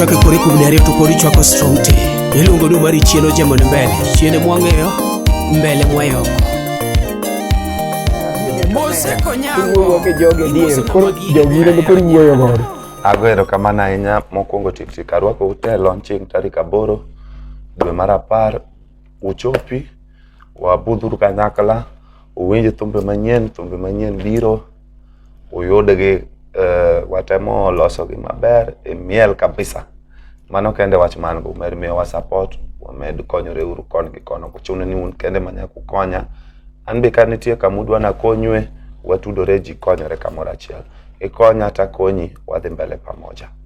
chake kori kuom ne ariyo to kori chwako strong te iluongo ni mari chien ojemo ni mbele chien mwang'eyo mbele mwayoko iwuoyo gi jogi adier koro jogi in ema koro iwuoyo godo ago erokamano ahinya mokwongo tiktik arwako ute e launching tarik aboro dwe mar apar uchopi, wabudhuru kanyakla, uwinj thumbe manyien, thumbe manyien biro, uyudgi eh, watemo losogi maber e miel kabisa. Mano kende wach man go, med miyowa support, wamed konyore uru kon gi kono, kuchuno ni un kende manya kukonya. An be ka nitie kama udwa nakonywe, watudore ji konyore kamoro achiel. Ikonya takonyi, wadhi mbele pamoja.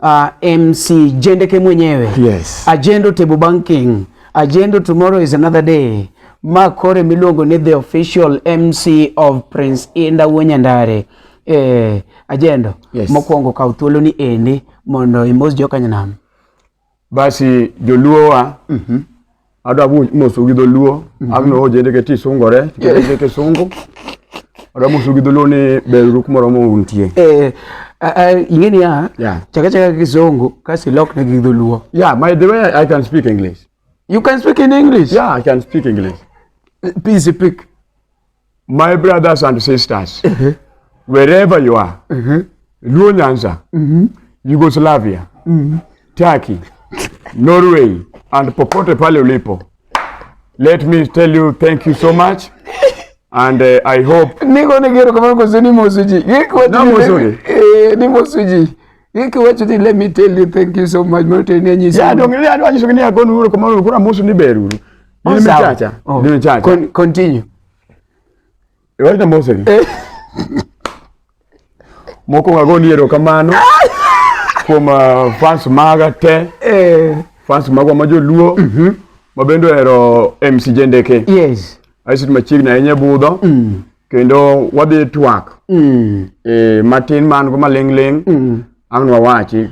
Uh, ah, MC Jendeke mwenyewe. Yes. Agendo Table Banking. Agendo Tomorrow is another day. Ma kore miluongo ni the official MC of Prince Inda Wonyandare. Eh, Agendo. Yes. Mokwongo kaw thuolo ni endi mondo imos jokanyanam. Basi joluowa mm -hmm. adwa mosu gi dholuo mm -hmm. agno ojende ke tisungore kete kisungu adwa mosu gi dholuo ni beruru kumoro mountie eh ing'e niya yeah. chaka chaka kisungu kasi lok ne gi dholuo yeah my the way I can speak English you can speak in English yeah I can speak English please speak My brothers and sisters, uh -huh. wherever you are, uh -huh. Luo Nyanza, uh mm-hmm. -huh. Yugoslavia, uh mm-hmm. -huh. Turkey, Norway, and popote pale ulipo, let me tell you thank you so much. And uh, I hope niko nigero kama ngozi ni mosuji yiko na mosuji eh ni mosuji yiko wacho ni let me tell you thank you so much mote ni nyisa ya dongelea ndo anyisho ni agonu kama kuna mosu ni beruru Oh, nimechacha. Oh. Nimechacha. Con continue. Iwaita mose. Eh. Moko ngago ni ero kamano. Kuom uh, fans maga te. Eh. Fans magwa ma joluo. Mhm. Mm mabendo ero MC Jendeke. Yes. Aisit machiegni ahinya budho. Mm. Kendo wadhi twak. Mm. Eh, matin man go malingling. Mm. Ang' wawachi.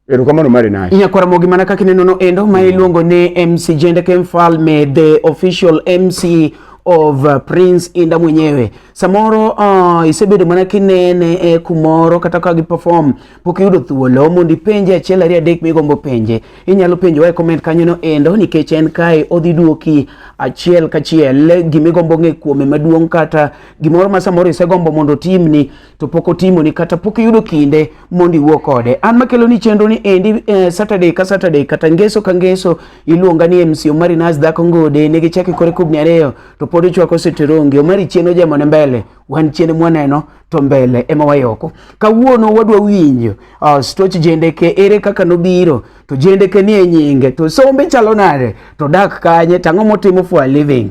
Erokamano mari naye. Nyakwara mogi mana kaka ineno no endo ma iluongo ni MC Jende Ken Falme the official MC of uh, Prince Inda mwenyewe. Samoro uh, isebedo mana kinene e kumoro kata ka gi perform pok yudo thuolo mondo ipenje achiel ariyo adek migombo penje. Inyalo penjo e comment kanyo no endo nikech en kae odhi duoki achiel kachiel gimigombo ng'e kuome maduong' kata gimoro ma samoro isegombo mondo timni to pok otimoni kata pok iyudo kinde mondo iwuo kode. An makelo ni chenro ni endi eh, Saturday ka Saturday kata ngeso ka ngeso iluonga ni MC Omari Nas dhako ngode ne gichake kore kubni ariyo to pod ichwako seterongi Omari chien ojemo ne mbele wan chien mwaneno to mbele ema wayoko. Kawuono wadwa winjo uh, stoch jendeke ere kaka nobiro to jendeke ni e nyinge to sombe chalo nade to dak kanye tang'o motimo for a living.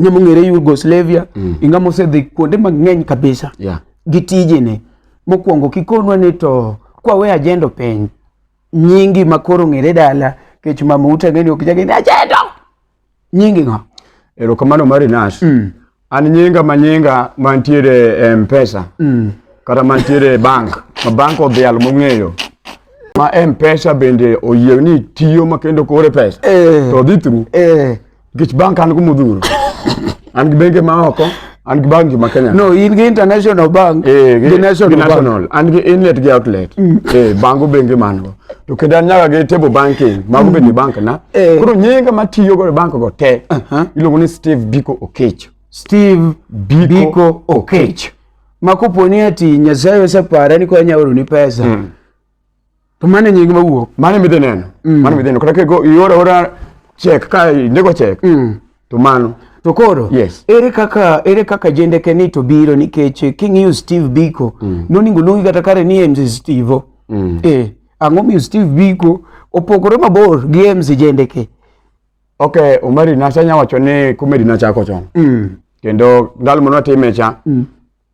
Ng'e mong'ere Yugoslavia, mm. inga mosedhi kuonde mang'eny kabisa yeah. gi tijene. Mokwongo kikonwa ni to kwawe ajendo piny nyingi makoro ng'ere dala kech mama ute ng'eni ok jageni ajendo nyingi ng'a. Erokamano mari Nash. Mm. An nyinga ma nyinga mantiere e Mpesa mm. kata mantiere e bank ma bank odhial mong'eyo ma Mpesa bende oyie ni tiyo makendo kore pesa eh. to dhi through eh. Nikech bank an kumudhuru. An gi bengi ma oko, an gi bangi ma Kenya. No, in gi international bank, Eh, gi national bank. national. An gi inlet gi outlet. Eh, bango bengi man go. To kendo an nyaka gi table banking, mago bende bank na. Eh. Koro nyinga matiyo go e bank go te. Iluongo ni Steve Biko Okech. Steve Biko Biko Okech. Ma koponi ati Nyasaye osepare ni konya oroni pesa. To mano e nying mawuok. Mano midhi neno. Mm. Mano midhi neno. Kata kego iora ora check ka indiko check. Mm. To mano. To koro yes. ere kaka ere kaka jendeke ni to biro nikech king'iyo Steve Biko mm. noningo luongi kata kare ni MC Steve. Mm. Eh, ang'o miyo Steve Biko opogore mabor gi MC jendeke? Okay, Omari nasanya wacho ni comedy nachako chon. Mm. Kendo ndalo mane watime cha mm.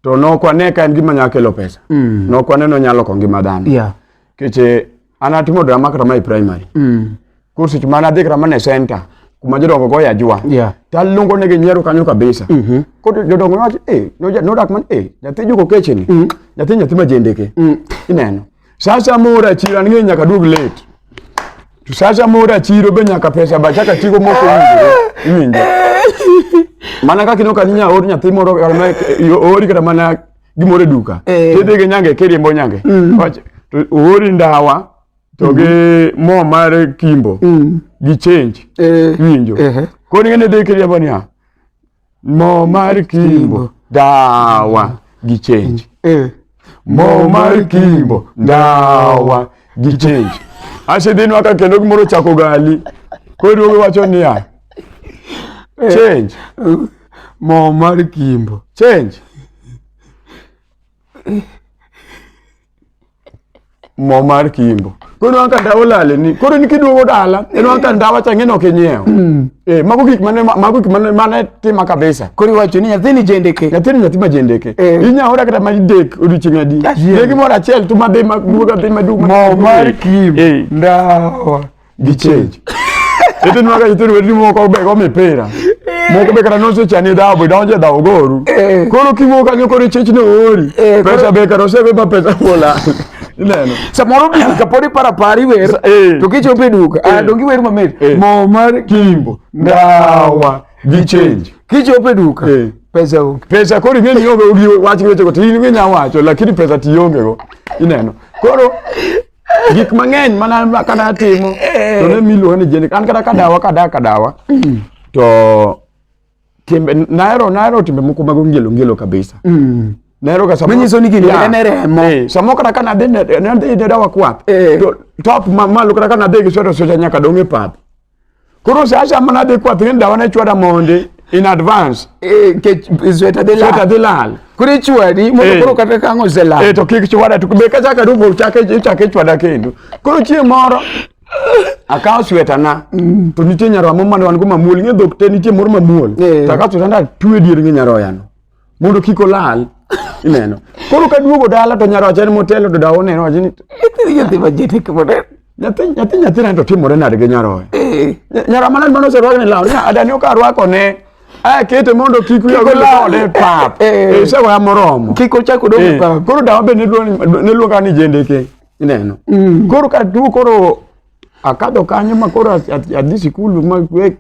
to nok wane ka en gima nyalo kelo pesa mm. nok wane no nyalo kongi madhano yeah. keche an atimo drama kata mai primary mm. koro seche ma nadhi kata mana e center kuma jodongo go yajwa yeah. taluongo negi nyiero kanyo kabisa mm -hmm. koro jodongo nowacho eh, nodak man eh, nyathi juko kecheni mm. nyathi nyathi majendeke mm. ineno Sasa moro achiro an ng'eyo nyaka duog late. To sasa moro achiro be nyaka pesa ba chaka tigo moko winjore. Iwinjo. Mana kaka inoka ninya or nyathi moro kata ma ori kata mana gimoro e duka. Eh. Tidhi gi nyange kiriembo nyange. Mm. Wach to ori ndawa to gi mm-hmm. mo mar kimbo mm. gi change. Eh. Iwinjo. Eh. Koni ngene dhi kiriembo niya. Mo mar Kimbo dawa gi change. Eh. Mo mar Kimbo dawa gi change. Ashidhin waka kendo gimoro chako gali. Koro wacho niya. Eh. Change. Mo mar Kimbo. Change. mo mar kimbo koro ineno ka ndawa olale ni koro in kiduogo dala ineno ka ndawa cha ng'eny ok inyiewo Eh, mago gik mane mago gik mane mane tima kabisa Koro iwacho ni nyathini jendeke. nyathini nyathi ma jendeke Eh. inya ora kata ma dek odiochieng' adi Achiel. dek moro achiel to madhi maduoga dhi maduoga Mo mar kim. Eh. Ndawa. gi change itinwa ka itinu wetu moko be go mipira moko be kata nose chani dhabu idonje dhabu goru Eh. koro kiwuo kanyo koro ichich ni oori Eh, koro- pesa be kata osebe ba pesa bola ineno samoro duka kapod iparo apara iwer Sa- eh. to kichopo e duka ah, donge iwer mamit Eh. mo mar kimbo ndawa gi change kichopo e duka Eh. pesa onge pesa koro ing'e ni onge gi wach gi wechego to in ing'e nya wacho lakini pesa ti ongego ineno koro gik mang'eny mana kana timo eh. to ne miluonga ni jenik an kata kadawa kada kadawa mm. to timbe nahero nahero timbe moko mag ongelo ngelo kabisa mm. nahero ga manyiso ni gini en remo eh, samo kata kana dhi ne dawa kwath eh. to top mamalo kata kana dhi gi sweta sweta nyaka dong' e pap Koro sa asha mana dhi kwath ni dawa ne chwada mondi in advance. Eh, ke sweta de Sweta la. dhi lal. Kuri chwadi mondo Eh. koro kata kango se la. Eh to kik chwada to be ka chaka rubo chake chake chwada kendo. Koro chieng' moro akawo sweta na to nitie nyaroya moro mane wan go mamuol ng'e dhok te nitie moro mamuol. Eh. To akawo sweta na twe dier gi nyaroya no. mondo kik olal ineno koro ka duogo dala to nyaroche ni motelo to dawo neno wacho ni nyathi majete kimore nyathi nyathi nyathi nani to timore nade gi nyaroya eh. nyara manani mane oserwake ni law nya adani ok arwako ne akete mondo kik wiya ogol kode pap eh, eh. isegoya moromo kik ochak odong pap koro dawa be ne luonga ni jendeke ineno mm. koro ka duo koro akado kanyo ma koro adhi sikul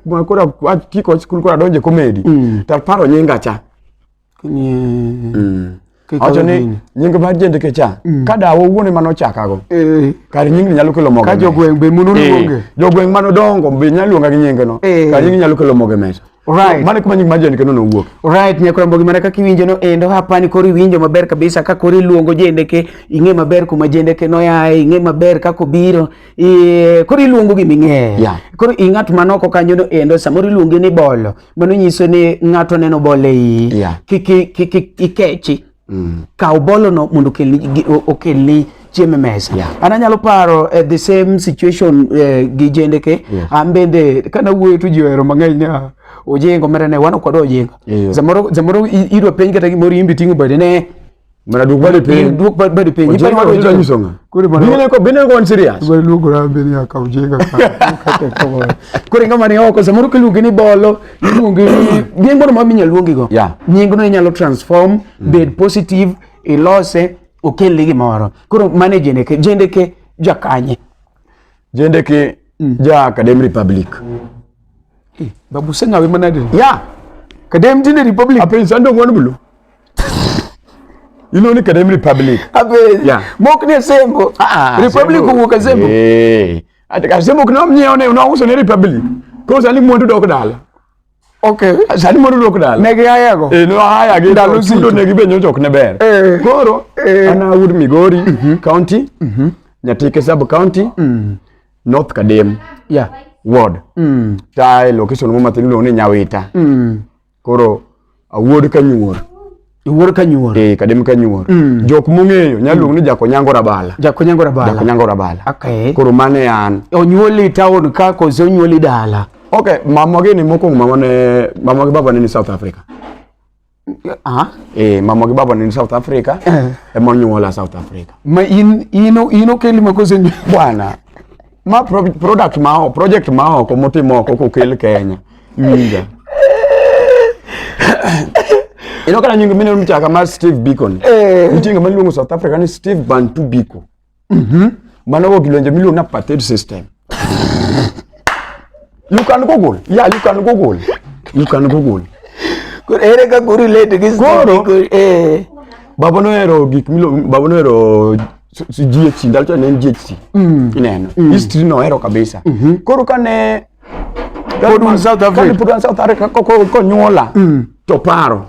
ma koro kiko sikul koro adonje komedi mm. taparo nyinga cha mm. awacho ni nying mar jendeke cha mm. ka dawa owuon ema nochakago eh. kar nyingni nyalo kelo moge ka jogweng' be munu luonge eh. jogweng' manodongo be nyalo luonga gi nyingeno eh. kar nyingni nyalo kelo moge mesa Right. Mane kuma nying majani kendo nowuok. Right, nyakora mbogi mana kaka iwinjo no endo hapa ni kori winjo maber kabisa ka kori luongo jende ke ing'e maber kuma jende ke no yae ing'e maber kako biro e, kori luongo gi ming'e. Yeah. Kori ing'at manoko kanyo no endo samori luongi ni bolo mano nyiso ni ng'ato neno bole i. Yeah. Kiki kiki ikechi. mm. kaw bolono mondo okelni okelni chiemo e mesa yeah. an anyalo paro uh, the same situation uh, gi jendeke yes. an bende kana wuoyo to ji ohero mang'eny ni ah, ojengo mera ne wan kod ojengo yeah. zamoro zamoro idwa penj kata gimoro imbi ting'o bade ne mana duok bade piny duok bade piny ipa ma ojengo nyiso nga kuri mana bine ko bine ko serious bale lugo ra bine akaw jenga ka kate ko kuri ngama ni oko zamoro kilugi ni bolo iluonge gin gono ma minyalo luongi go yeah. nyingno inyalo transform mm. bed positive ilose okelni gimoro koro mane jendeke jendeke jakanye jendeke mm. ja academ republic hey, eh, babu sengawe manade ya yeah. kadem jende republic apen sando ngwan bulu ilo ni kadem republic apen yeah. mok ne sembo ah, ah, republic wuka sembo hey. Eh. Ati kasema kuna mnyeo ne unauso ne republic. Ko sani mwandu dok dala. Okay. Sani mwandu dok dala. Ne gaya yego. Eh no haya gi dalo sido ne gibenyo jok ne ber. Eh. Koro eh. ana wood Migori mm -hmm. county. Mm -hmm. Nyatike sub county. Mm -hmm. North Kadem. Yeah. Ward. Mm. Tai location mo matin lo ne Nyawita. Mm. koro awuod ka nyuor iwuor ka nyuor eh kadem ka nyuor mm. jok mong'eyo nyalo luong ni mm. jakonyango rabala jakonyango rabala jakonyango rabala okay koro mane an onyuoli town ka koso onyuoli dala okay mama gini mokwongo mama ne mama gi baba ne ni south africa Ah. Eh, mama gi baba ni South Africa. Eh. Ema nyuola South Africa. Ma in ino ino kelima kosenyo. Bwana, ma pro, product ma oko project ma oko motim oko kokel Kenya iwinja ino kana nyingo mine mchaka mar Steve Bicon Eh. nitie ngama iluongo South Africa ni Steve Bantu Biko mano go gilwenje miluongo ni apartheid system you can google yeah you can google you can google Koro ere kaka urelate gi Koro- Steve Biko? Eh. baba nohero gik miluongo baba nohero si GHC ndalo to ne en GHC mm. ineno mm. history no ero kabisa mm -hmm. koro kane pod un South Africa kane pod un South Africa ko ko, ko nyuola mm. to paro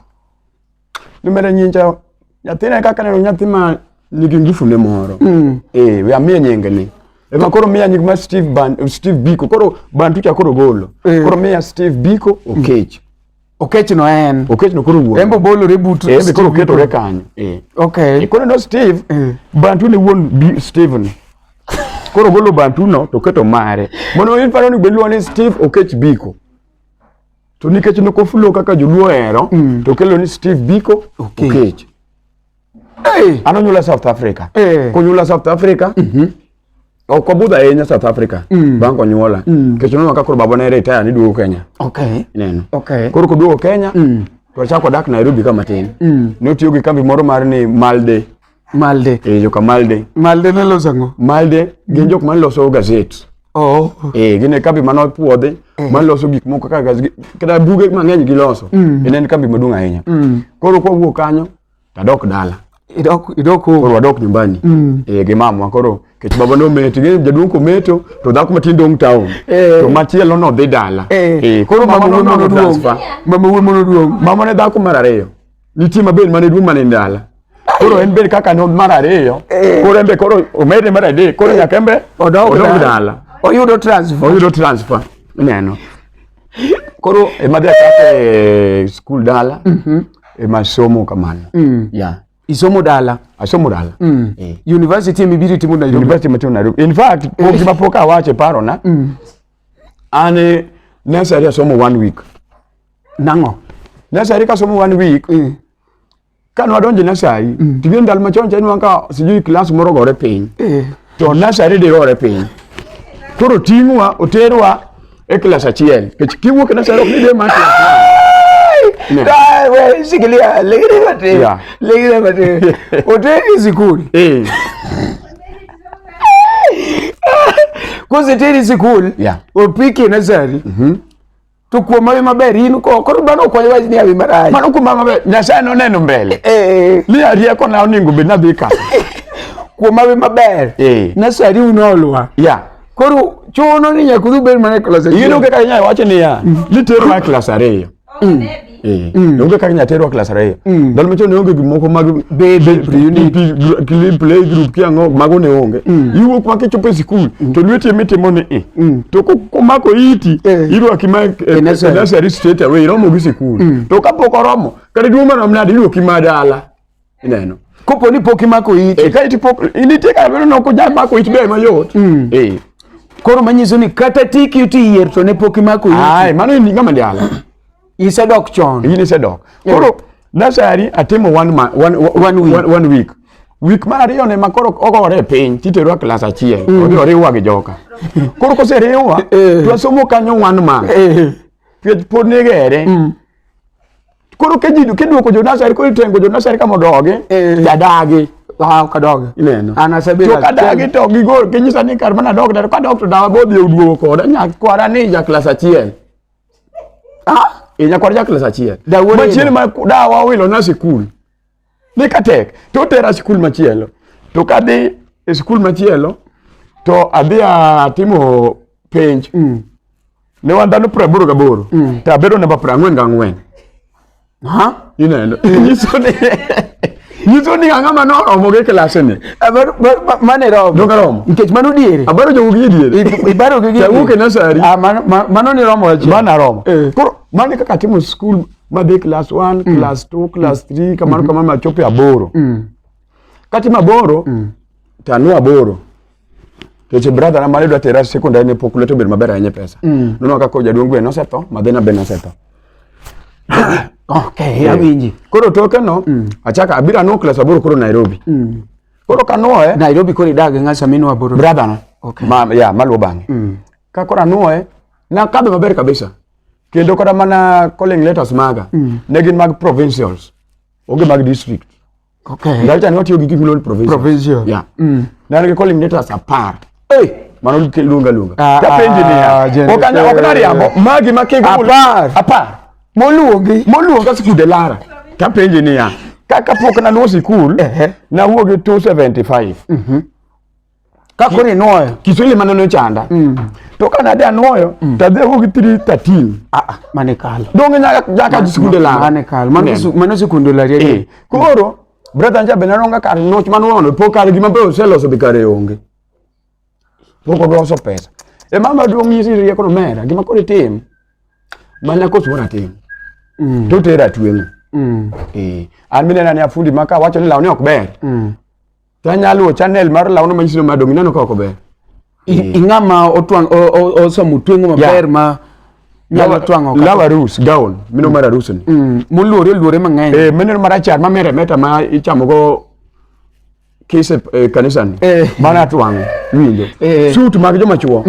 ni mere nyinja nyathina kaka neno nyathi ma nigi ngufu ne moro mm. eh we amie nyinge ni Ema koro miya nying ma Steve Ban Steve Biko koro Bantu cha koro golo mm. koro miya Steve Biko Okech mm. Okechno en. Okechno koro wuon. Embo bolore but. Eh, embe koro ketore kanyo. Eh. Okay. E koro no Steve. Eh. Bantu ne wuon Steven. Koro golo bantu no to keto mare. Mondo in paro ni beluwa ni Steve Okech Biko. To nikech nokofulo kaka joluo hero mm. to kelo ni Steve Biko okay. Okech. hey. anonyula south africa hey. kunyula south africa mm -hmm. okobudha ahinya south africa mm. bang' konyuola mm. kech nonwa ka koro babana ere itaya ni duogo kenya okay. neno okay. koro koduogo kenya mm. to achako dak nairobi ka matin mm. notiyo gi kambi moro mar ni malde malde e, joka malde malde ne loso ang'o malde gin mm. jok mane loso gazet oh. e, gin e kambi mane opuodhi mm. mane loso gik moko kaka buge mang'eny giloso mm. en en kambi maduong' ahinya mm. koro kwawuok kanyo tadok dala idok idok koro koro wadok nyumbani Mm. eh, gi mamwa koro kech baba nometo ing'eyo jaduong' kometo to dhako matin dong' town Eh. to machielo nodhi dala eh Eh, koro mama wuon nono mono duong transfer. mama wuon mono duong mama ne dhako mar ariyo nitie mabed mane duong' mane ndala koro en bed kaka no mar ariyo Eh. koro en be koro omedne mar adek koro nyaka en be odok odok dala. dala oyudo transfer oyudo transfer ineno koro emadhi achako e skul dala mhm. emasomo kamano mm. yeah. isomo dala asomo dala mm. eh. university emibiro itimo nairobi university matimo nairobi in fact eh. pok gima pok awacho e parona mm. an eh, nursery asomo one week nang'o nursery kasomo one week mm. Ka nwadonjo nasari, mm. tigie ndalo machon cha nwa ka sijui klas moro gore piny. Eh. To nasari de gore piny. Koro ting'wa, oterwa e klas achiel. Kech kiwuok e nasari ok ni de mati. Wewe shikilia, legere mate. Legere mate. Oteri sikuli. Eh. Kose teri sikuli. Yeah. Opiki nasari. Mhm. Mm to kuom hawi maber in ko koro dhano ok wach ni hawi marach mano kuom hawi maber nyasaye noneno mbele eh, eh, eh. ni arieko na oningo bed nadhi ka kuom hawi maber eh. nasari unolowa yeah. koro chuno ni nyaka udhi ubed mana e klas achiel iyudo kaka inyalo wacho niya mm. nitero mana klas ariyo mm. Eh, mm. onge kaka inyalo terwa klas ariyo mm. ndalo machon ne onge gik moko mag play group kiang'o mago ne onge mm. iwuok ma kichopo e sikul to lweti emitimo ni i to komako iti eh. irwaki ma e nursery straight away iromo gi sikul to kapok oromo kata duong' marom nade irwaki ma dala ineno kopo ni pok imako it e ka itipok initie ka bedo noko jam mako it be mayot mm. eh koro manyiso ni kata tiki uti yier to ne pok imako it ai mano ni ngama ndiala isedok chon yini isedok eh. koro nasari atimo one man, one, one, week. one, one week week mar ariyo ne makoro ogore e piny titerwa klas achiel mm. odhi oriwwa gi joka koro koseriwwa eh. twasomo kanyo one man eh. twech pod nigere mm. koro ka ji kiduoko jo nasari koro itengo jo nasari ka mondo ogi eh. jadagi wow kadogi ineno an asebedo to kadagi to gigol ginyisa ni kar mana dog daro kadog to dawa bodhi oduogo koda nyakwara ni ja klas achiel ah e nyakwara ja klas achiel machiel ma dawa owilo na sikul ne ka tek to otera skul machielo to kadhi e skul machielo to adhi atimo penj mm. ne wan dhano piero aboro gaboro mm. to abedo namba piero ang'wen gang'wen ineno nyiso ni nyiso ni ang'a ma noromo gi klase ni mane romo donge romo nikech mano diere abaro jogo gi diere ibaro gi gi wuok e nasari ah, mano ni romo mana romo eh. koro mano kaka timo skul madhi class 1 mm. class 2 class 3 mm. kamano mm-hmm. kamano machopo aboro mm. kati maboro mm. tanu aboro keche brother na mali dwa tera sekondari ne pok lweto bedo maber ahinya pesa mm. nono kaka ojaduong' gweno osetho madhina ben osetho okay yeah. awinji koro toke no mm. achaka abiro anu class aboro koro nairobi mm. koro kanuoye nairobi koro idag ng'a samino aboro brother no okay. ma, ya yeah, maluwo bang'e mm. ka koro anuoye nakadho maber kabisa kendo kata mana calling letters maga mm. ne gin mag provincials onge mag district okay. Galita ne watiyo gi gik miluongo ni provincial provincial yeah. mm. ne an gi calling letters apar hey. mano lunga lunga ah, tapenji ah, niya ah, ok nariambo magi ma kego apar apar moluongi moluonga sikude lara tapenji niya kaka pok naluwo sikul nawuok gi 275 mm -hmm. ka koro inwoyo kiswahili mane nochanda mm. to ka nade anwoyo mm. to adhi ago gi 313 ah, ah mane kalo donge nyaka jaka sikunde la mane kalo mano sikunde la riye eh. koro brother nja be nanonga kar noch manwono po kar gima be oseloso be kare onge pok odwoso pesa e mama duong' nyisi rieko no mera gima koro itim mana kosuo natim mm. to tera tweng'o mm. eh. an minena ni afundi maka wacho ni lawne ok ber mm. To anyalo luwo channel mar lawno manyiso ni madong ineno ka ok ober. I- ing'a ma otwang' o- o- osomo tweng'o maber ma nyalo twang'o kata- Lawa rus gown mino mar arus ni. Mm, moluore oluore mang'eny Eh mino mar achar ma mere meta ma ichamo go kise eh, kanisa ni. Eh. Mana twang' winjo. Eh. Suit mag joma chuo.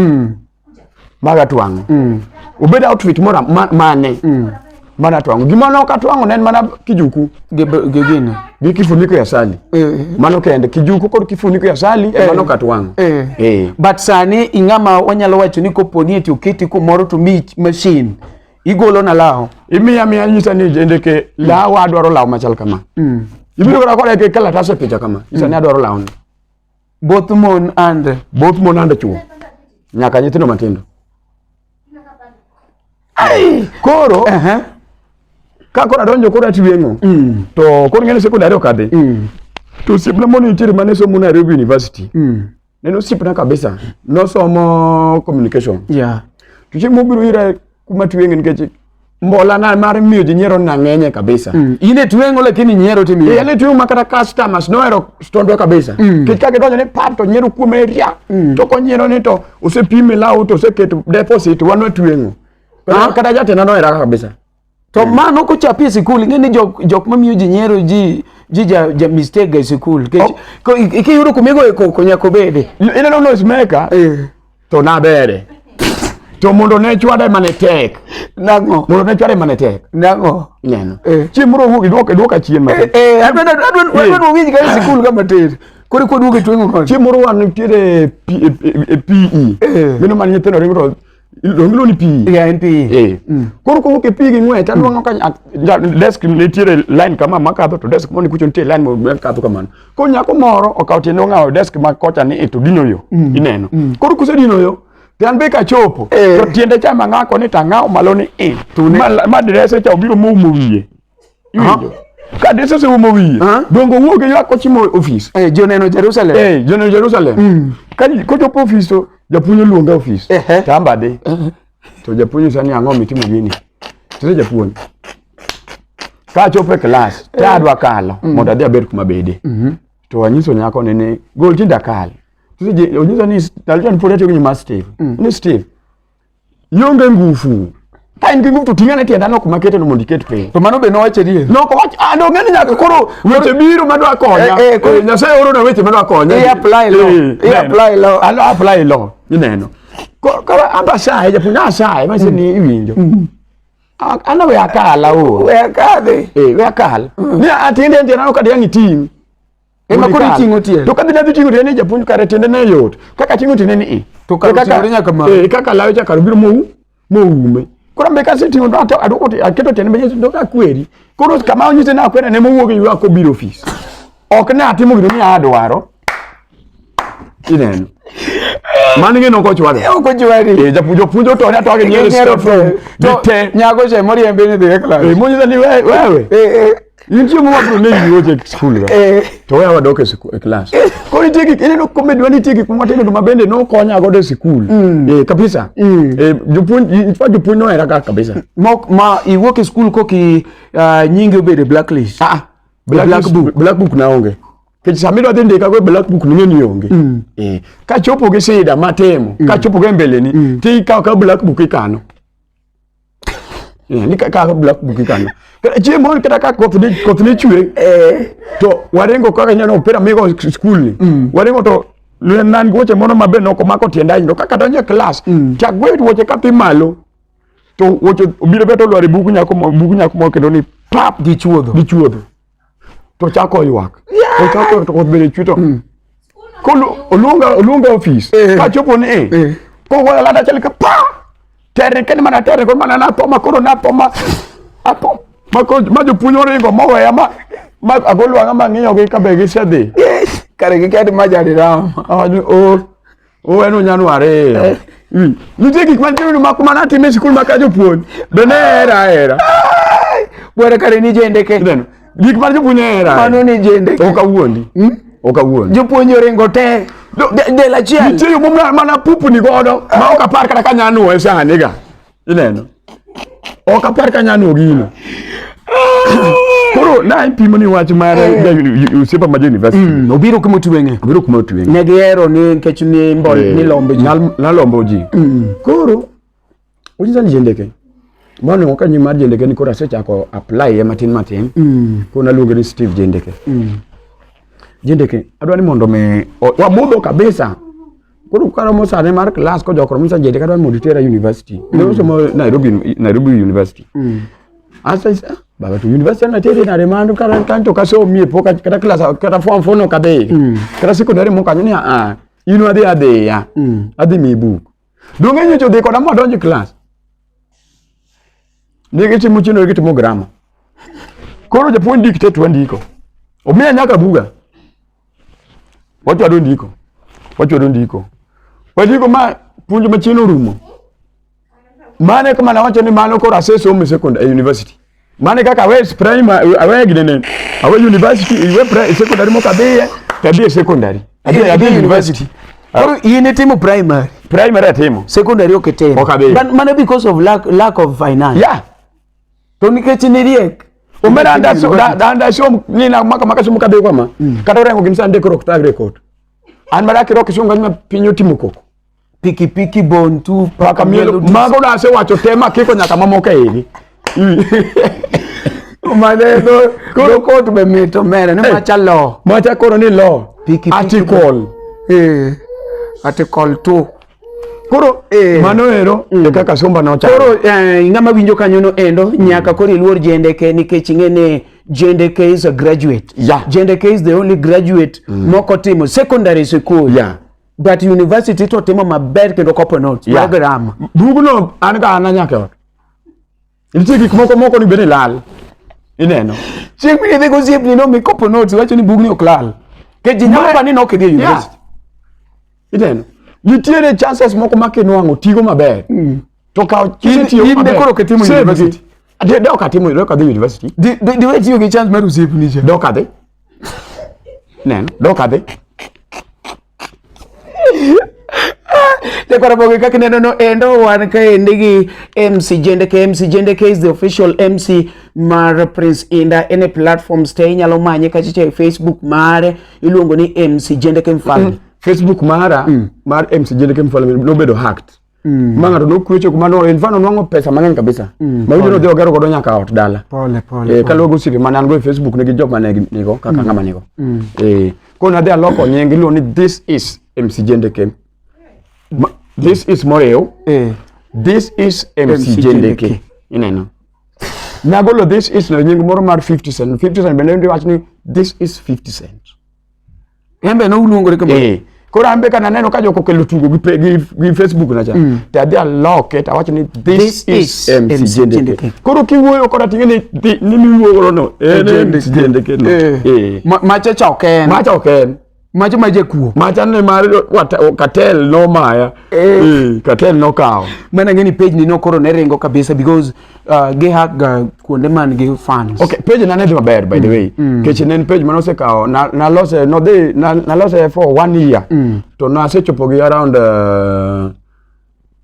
maga twang'e mm. obed outfit mora mane mm. mana twang'o gima nok atwang'o ne en mana kijuku gi gine gi kifuniko ya sali eh, eh. mano kende kijuku kod kifuniko ya sali eh, mano katwang'o eh. eh. but sani ing'ama wanyalo wacho ni kopo ni eti oketi kumoro to mi machine igolo na lawo imiya miya nyisa ni jende ke mm. lawo adwaro lawo machal kama mm. ibiro kora kora ke kalatas e picha kama nyisa mm. ni adwaro lawo ni Both mon and both mon and chuo. Nyaka nyithindo matindo. Ai, koro uh -huh. ka koro adonjo koro atweng'o mm. to koro ng'eni sekondari ok adhi mm. to osiepna moro nitiere mane somo Nairobi University mm. neno osiepna kabisa nosomo communication yeah. to chieng' mobiro ira kuma twenge nikech mbola na mar miyo ji nyiero na ng'enye kabisa mm. ine twengo lakini nyiero ti miyo yale twengo makata customers no ero stondo kabisa mm. kit kake donjo ni pap to nyiero kuom area mm. to ko nyiero ni to use pime lau to use ket deposit wano twengo ah. kata jate na no era kabisa to mm. mano ko chapi e sikul nge ni jok jok ma miyo ji nyiero ji ji ja, ja mistake ga e sikul ke oh. ko ikiyudo kumigo e ko nyakobede ina no no is maker eh. to nabere to mondo ne chwade mane tek nango mondo ne chwade mane tek nango neno eh. chieng moro wuogi duoke duoka chien mate eh, eh, adwa adwa eh. winj ka sikul kama tir kore kwa duoke twengo kon chieng moro wan nitiere PE eh, mino man nyithindo ringo to iluongo ni pi yeah, en pi eh. mm. koro kowuok e pi gi ng'wech aduong'o mm. ka desk nitiere line kama makadho to desk moni kucho nitie line makadho kamano Koro nyako moro okawo tiende ong'awo desk ma kocha ni e to dino yo mm. ineno. Mm. Koro kusedino yo to an be kachopo eh. to tiende cha mang'ako ni tang'awo malo ni i. Ma direse cha obiro moumo wiye. Iwinjo? ka dese oseumo wiye dongo wuog e ywak kochimo ofis eh, joneno Jerusalem eh, joneno Jerusalem mm. ka kochopo ofis to japuonj oluonga ofis tamba di To japuonj sani ang'o mitimo gini? Tire japuonj. Ka achopo e klas, ta eh. adwa kalo mm. mondo adhi abed kuma bede. Mhm. To anyiso nyako ni ni gol tinda kal. Tije onyiso ni Dalton pod atiyo gi nyima Steve. Mm. Ni Steve. Yonge ngufu. Ka in gi ngufu to ting'ane tienda nok makete no mondo iket piny. To mano be nowacho adier. Nok owacho ah no ng'ani nyaka koro weche biro madwa konya. Eh, eh, Nyasaye oro na weche madwa konya. I apply law. I apply law. Alo apply law. Ineno. koro an asaye japuonj nasaye mase ni iwinjo A- an we akala o we akadhe Eh, we akal ni atiende nje nano kadi ang' iting' Ema koro Ikal. iting'o tiende. to kadhi nadhi ting'o tiende ni japuonj kare tiende ne yot kaka ting'o tiende ni i to kar oting'ore nyaka malo. Eh, kaka lawe cha kar obiro mou moume koro mbe kasetimo to aduoko aketo tiende mbe nyiso ka kweri koro kama onyise ni akwera ne mowuok e ako biro ofis ok ne atimo gino ni adwaro ineno mano ing'e nok ochwado eh, ok ochwadi eh, japuonj opuonjo to ne atwage nyere to te nyago che moriembe ni dhi e klas eh, monyisa ni wewe Nitie muma bro ne yuoje school ra. Eh. To wewe wadok e school e class. Ko nitie gik ineno comedy wani nitie gik muma timo to mabende no konya godo e school. Mm. Eh kabisa. Mm. Eh jopuonj in fact jopuonj no era kabisa. Mok ma iwuok e school koki ah, nyingi obedo blacklist. Ah. Black, black book. Black book na onge. Kech sami do dhi ndika go e black book ni ngeni onge. Mm. Eh ka chopo gi sida matemo, ka chopo go e mbele ni, ti ka ka black book ikano. Eh, ni kaka ka black book kanyo kata chiemo on kata ka koth ni koth ni chwe eh. to warengo kaka nyano opira migo school ni mm. warengo to nan goche mono mabe no ko mako tienda ndo kaka donje class mm. chak gwe woche ka pi malo to woche obiro beto lwari buku nyako mo buku nyako mo kendo ni pap di chuodho di chuodho to chako ywak to chako to koth bende chwe to mm. oluonga oluonga ofis eh. ka chopo ni eh. eh. ko gola lada chal ka pa tere ken mana tere ko mana na to ma koro na to ma apo ma ko ma jo punyo ringo mo we ma ma agolwa ma ngiyo gi ka be gi sedhi kare gi kadi ma jari ram awaju o Oweno nyano ariyo. Eh. Hmm. Nitie gik mantie ni mak mana time sikul maka jopuonj. Be ne era era. Bora kare ni jende ke. Neno. Gik mar jopuonj era. Mano ni jende. Ok awuondi. Hmm? Ok awuondi. Jopuonj oringo te. Del achiel. Nitie yo mom mana pupu ni godo. Ma ok apar kata ka nyano e sani ga. Ineno? Ok apar ka nyano gino. Koro na ipimo ni wach mar Usipa eh. ma University. Mm, obiro kuma otwenge. Obiro kuma otwenge. Ne gihero ni nikech ni mbol eh, ni lombo ji. Nalombo ji. Mm. Koro ujiza ni jendeke. Bwana waka nyuma jendeke ni kora secha ko apply ya matin matin. Mm. Koro naluonge ni Steve Jendeke. Mm. Jendeke adwa ni mondo me wamudho kabisa. koro karomo sane mar klas ko jokro misa jede kata mondo itera university mm. ne osomo Nairobi Nairobi University mm. asa isa ah, baba to university na tere na remando kara kanto kaso mie poka kata klas kata form 4 no kade mm. kata secondary mo kanyo ni a ah, ah, ino ade ade ya mm. ade mi book donge nyocho de koda mo donje klas ne gichi muchino gichi mo grammar koro japuonj dikte twandiko omiya nyaka buga Wachwado ndiko. Wachwado ndiko. Wachiko ma puonj machien orumo. Mane kama nawacho ni mano koro asesomo e secondary e university. Mane kaka awe primary awe gidene awe university iwe primary secondary moka biye tabia secondary. Tabia tabia university. Koro ah. in itimo primary. Primary atimo. Secondary oketimo. Mana because of lack lack of finance. Yeah. to nikech niriek omera ndasho nina maka maka somo kadhi kama mm. kata orengo gimsa ndiko rok tagre kot an mara kiro kisunga nyima piny otimo koko piki piki bon tu paka mielo mago na se wacho tema kiko nyaka mamoko e igi maneno koro kot be mit omera ni eh. macha lo macha koro ni lo article eh article 2 koro eh, mano ero mm. kaka somba nocha koro eh, ng'ama winjo kanyo no endo mm. nyaka koro iluor jendeke nikech ing'e ni jendeke is a graduate yeah. jendeke is the only graduate mm. mokotimo secondary school yeah. but university to timo maber kendo kopo notes yeah. program bugno an ga ana nyaka Nitie gik moko moko ni bende lal. Ineno. Chieng' mine dhego osiep ni no mi kopo notes wacho ni bugni ok lal. Ke ji nyalo pa ni no kidhi university. Ineno. Nitiere chances moko ma kinwang'o tigo maber. Mm. To kawo kise tiyo maber. In ne koro kitimo university. Ade dok atimo dok adhi university. Di di we tiyo gi chance mar osiep ni cha. Dok adhi. Neno. Dok adhi. Lekora boge kaka neno no endo wan ka endi gi MC Jendeke. MC Jendeke is the official MC mar Prince Inda. Any platforms te inyalo manye kachicha e Facebook mare iluongo ni MC Jendeke Mfalme. Mm. Facebook mara mm. mar MC Jendeke Mfalme nobedo hacked. Mm. Ma ng'ato nokwecho kuma no in fano nwango pesa mang'eny kabisa. Mm. Ma ibiro dhi ogero godo nyaka ot dala. Pole pole. Eh, kaluwo gosipe ma nan go e Facebook ne gi jok ma ne nigo kaka mm. ng'ama nigo. Mm. Eh, ko na dhi aloko nying iluwo ni this is MC Jende Kem. Ma, this is Moreo. Eh. This is MC, MC Jende Kem. Ineno. Nagolo this is no nying moro mar 50 cent. 50 cent bende ndi wach ni this is 50 cent. En be noluongore kama. Eh. Koro an be kana neno ka joko kelo tugo gi, pe- gi, gi Facebook na cha. Mm. To adhi aloke to awacho ni this, This is is MC MC Jendeke. Jendeke. Koro kiwuoyo koda ting'e ni thi- ni miwuoyo godo no. En MC Jendeke no. Eh. Eh. Ma- Macha cha ok en. Macha ok en. Macha ma jakuo. Macha ne mar wata- o- Katel nomaya. Eh. Eh, Katel nokawo. Mana ng'e ni page ni no koro ne ringo kabisa because uh, gi hack ga kuonde man gi fans okay page na ne dhi maber by the mm, way mm. kech ne en page mane osekawo na lose no dhi na lose for one year mm. to na asechopo gi around uh,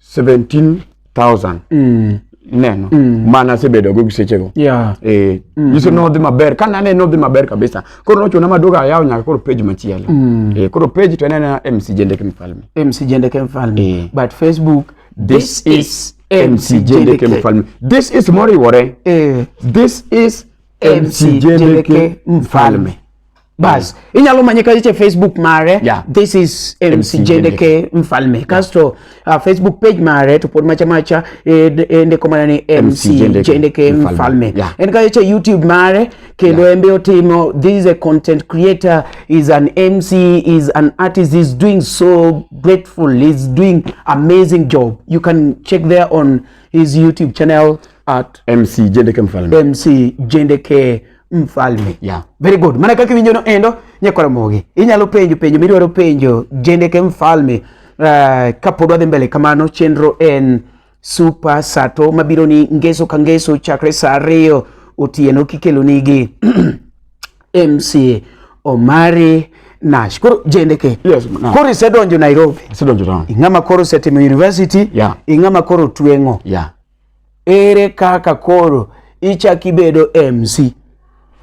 17000 mm neno mm. mana asebedo go gisechego yeah. eh, mm. iso nodhi maber ka nane nodhi maber kabisa koro nochuna maduogo ayawo nyaka koro page machielo mm. eh, koro page to enena mc jendeke mfalme mc jendeke mfalme eh. but facebook this, this is, is MC Jendeke Mfalme. This is Moriwore. Eh. This is MC Jendeke Mfalme. Bas, mm. inyalo manye ka iche Facebook mare. Yeah. This is MC, MC Jendeke Mfalme. Yeah. Kasto uh, Facebook page mare to pod macha macha ende eh, eh, komana ni MC, MC Jendeke, Jendeke Mfalme. Mfalme. Yeah. Ende ka iche YouTube mare kendo yeah. embe otimo this is a content creator is an mc is an artist is doing so grateful is doing amazing job you can check there on his youtube channel at mc jendeke mfalme mc jendeke mfalme yeah. very good mana kaka iwinjono endo nyakoromogi inyalo penjo penjo midwaro penjo jendeke mfalme uh, kapod wadhi mbele kamano chenro en Super Sato mabiro ni ngeso ka ngeso chakre sa ariyo otieno kikelo nigi MC Omari Nash. Koro jendeke. Yes, no. Koro isedonjo Nairobi. Isedonjo town. Ing'ama koro osetimo university. Yeah. Ing'ama koro tweng'o. Yeah. Ere kaka koro ichak ibedo MC?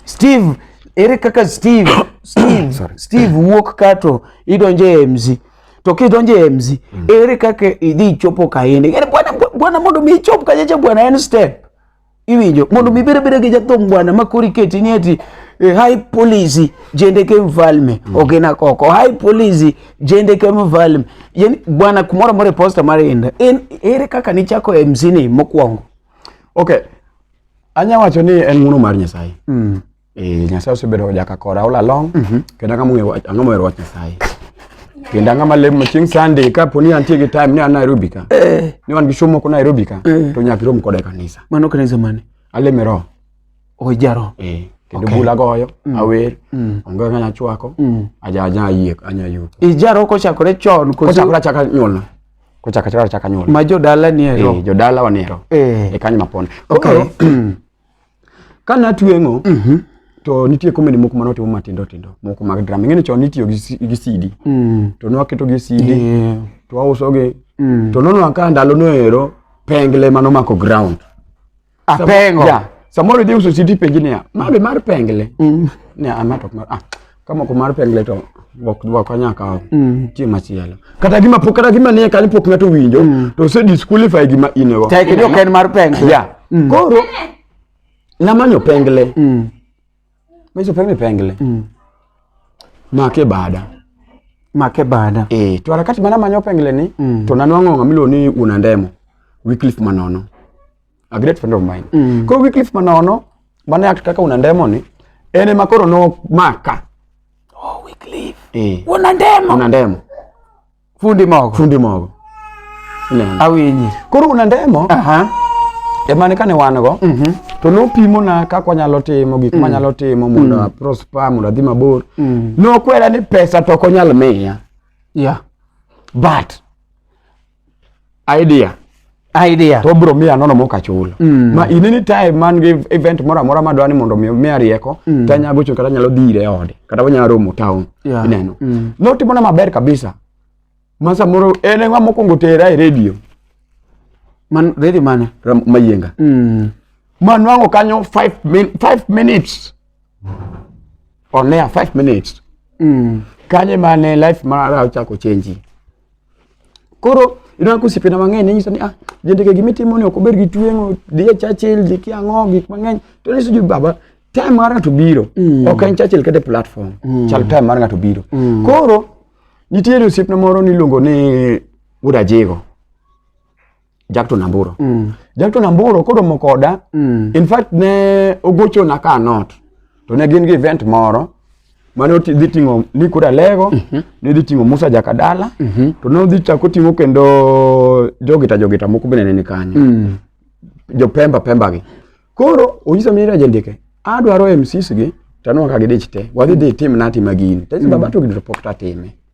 Steve, ere kaka Steve, Steve, Sorry. Steve wuok kato idonje e MC. To kidonje e MC, mm. ere kaka idhi ichopo kaende. Yaani bwana bwana mondo mi ichop kajeje bwana en step. Iwinjo mondo mi bere bere gi jathum bwana makori keti ni eti eh, high police jende ke mfalme mm. ogena koko high police jende ke mfalme yani bwana kumora more posta mare enda en ere kaka nichako MC ni mokwongo okay Anya wacho ni en ng'uno mar Nyasaye. Mm. Eh, Nyasaye osebedo jaka kora all along. Mm -hmm. Kendo ang'ama ong'eyo wach- ang'ama ohero wach Nyasaye. Kendo ang'ama lem chieng' Sunday ka po ni antie gi time ni an Nairobi ka. Eh, Ni wan gi show moko Nairobi ka. Eh. To nyaka irom koda e kanisa. mano kanisa mane? Aleme roho. Ojaro. Eh, kendo Okay. bula goyo, awer, Mm. onge kaka anya chwako, Mm. aja aja ayie, anya yuko. Ijaro kochakore chon koso Kochakore achaka nyuolna. kochaka chaka chaka nyuol ma jodala ni ero eh jodala wa ni ero eh e kanyo mapon okay ka na tuengo mm -hmm. to nitie komedi moko mane otimo matindo tindo moko mag drama ing'eni chon nitiyo gi CD mm. to nwaketo gi CD yeah. to wausogi mm. to nono ka ndalo no ero pengle mano mako ground Apengo. Yeah. Samoro idhi uso siti penji niya, mabe mar pengle. Mm. Niya, ama to mar, ah, kama ko mar pengle to ok dwa konya kawo mm. chieng' machielo kata gima pok kata gima nie kanyo pok ng'ato winjo mm. to ose disqualify gima in go tek ni ok en mar pengle yeah. mm. koro namanyo pengle mm. meso pengle pengle mm. make bada make bada eh to harakati mana manyo pengle ni mm. to nanwang'o ng'ama iluongo ni Unandemo Wycliffe Manono a great friend of mine mm. koro Wycliffe manono mane act kaka una ndemo ni en ema koro no maka oh Wycliffe eh una ndemo una ndemo fundi mogo fundi mogo awinyi koro una ndemo aha ema ne kane wan go mm -hmm. to nopimo na kaka wanyalo timo gik mm. manyalo timo mondo mm. prosper mondo adhi mabor mm. nokwera ni pesa to ok onyal miya yeah but idea idea to bro miya nono mok achul mm. ma in any time man gi event moro amora ma dwani mondo mi miya rieko mm. to anyago chung kata nyalo dhire e ode kata wanyalo romo town yeah. ineno mm. notimo na maber kabisa ma samoro en ng'a mokwongo tera e radio man radio mane mayienga mm. ma nwang'o kanyo 5 min, five minutes on air 5 minutes mm. kanye mane life mara ochako chenji Koro ineno ka osiepena mang'eny ne nyisa ni ah, jendeke gima itimo ni ok ober gi tweng'o, dhi e Churchill, dhi kiang'o, gik mang'eny. To ne nyiso baba, time mar ng'ato biro. Mm. Ok en Churchill kata e platform. Mm. Chal time mar ng'ato biro. Mm. Koro nitiere osiepna moro niluongo ni Wuod Ajigo. Jakto Namburo. Mm. Jakto Namburo koro mo koda. Mm. In fact ne ogocho na ka not. To ne gin gi event moro mane dhi ting'o ni kura lego mm -hmm. ne dhi ting'o Musa Jakadala mm -hmm. to ne odhi chako ting'o kendo jogita jogita moko bende ne ni kanyo mm. jo Pemba Pemba gi koro onyisa mira jendike adwaro MCs gi tanwa ka gidich te wadhi dhi tim na tima gini tesi mm. baba to gidro pok tatime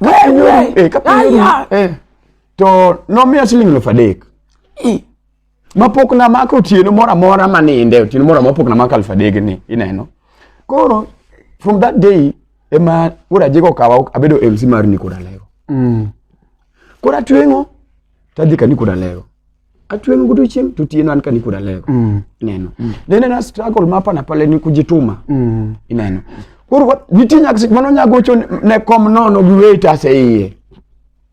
Eh, eh. to nomiya siling elfu adek mapok namako otieno moro amora maninde otieno moro amora pok namako elfu adek ni ineno koro from that day ema wuod ajiko okawa abedo mc mar nikod alego mm. koro atweng'o tadhi ka nikod alego Achwe mgudu chim tutieno an kani kuda lego. Mm. Ineno. Mm. Then na struggle mapa na pale ni kujituma. Mm. Ineno. Koro nitie nyaka sik mano nyago cho ne kom nono gi weta se iye.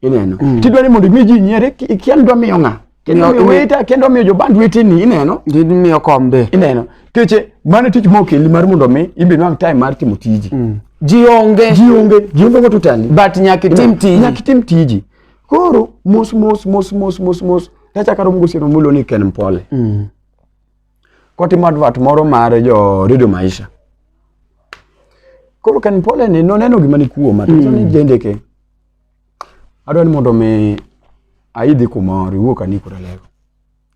Ineno. Mm. Tidwa ni mondo mi ji nyiere kian dwa miyo ng'a. Kendo miyo weta kendo miyo joband wetini ineno. Gin miyo kombe. Ineno. Keche mano tich mokeli mar mondo mi imbe nwang time mar timo tiji. Mm. Jionge. Jionge. Jionge go tutani. But nyaka tim tiji. Nyaka tim tiji. Koro mos mos mos mos mos mos tachaka romo gosieno mulo ni Ken Mpole. Mm. Kotimo advert moro mar jo Radio Maisha. Koro Ken Mpole ni noneno gima ni kuoma to mm. ni jendeke. Adwa ni mondo mi aidhi kumoro iwuok ani kuralego.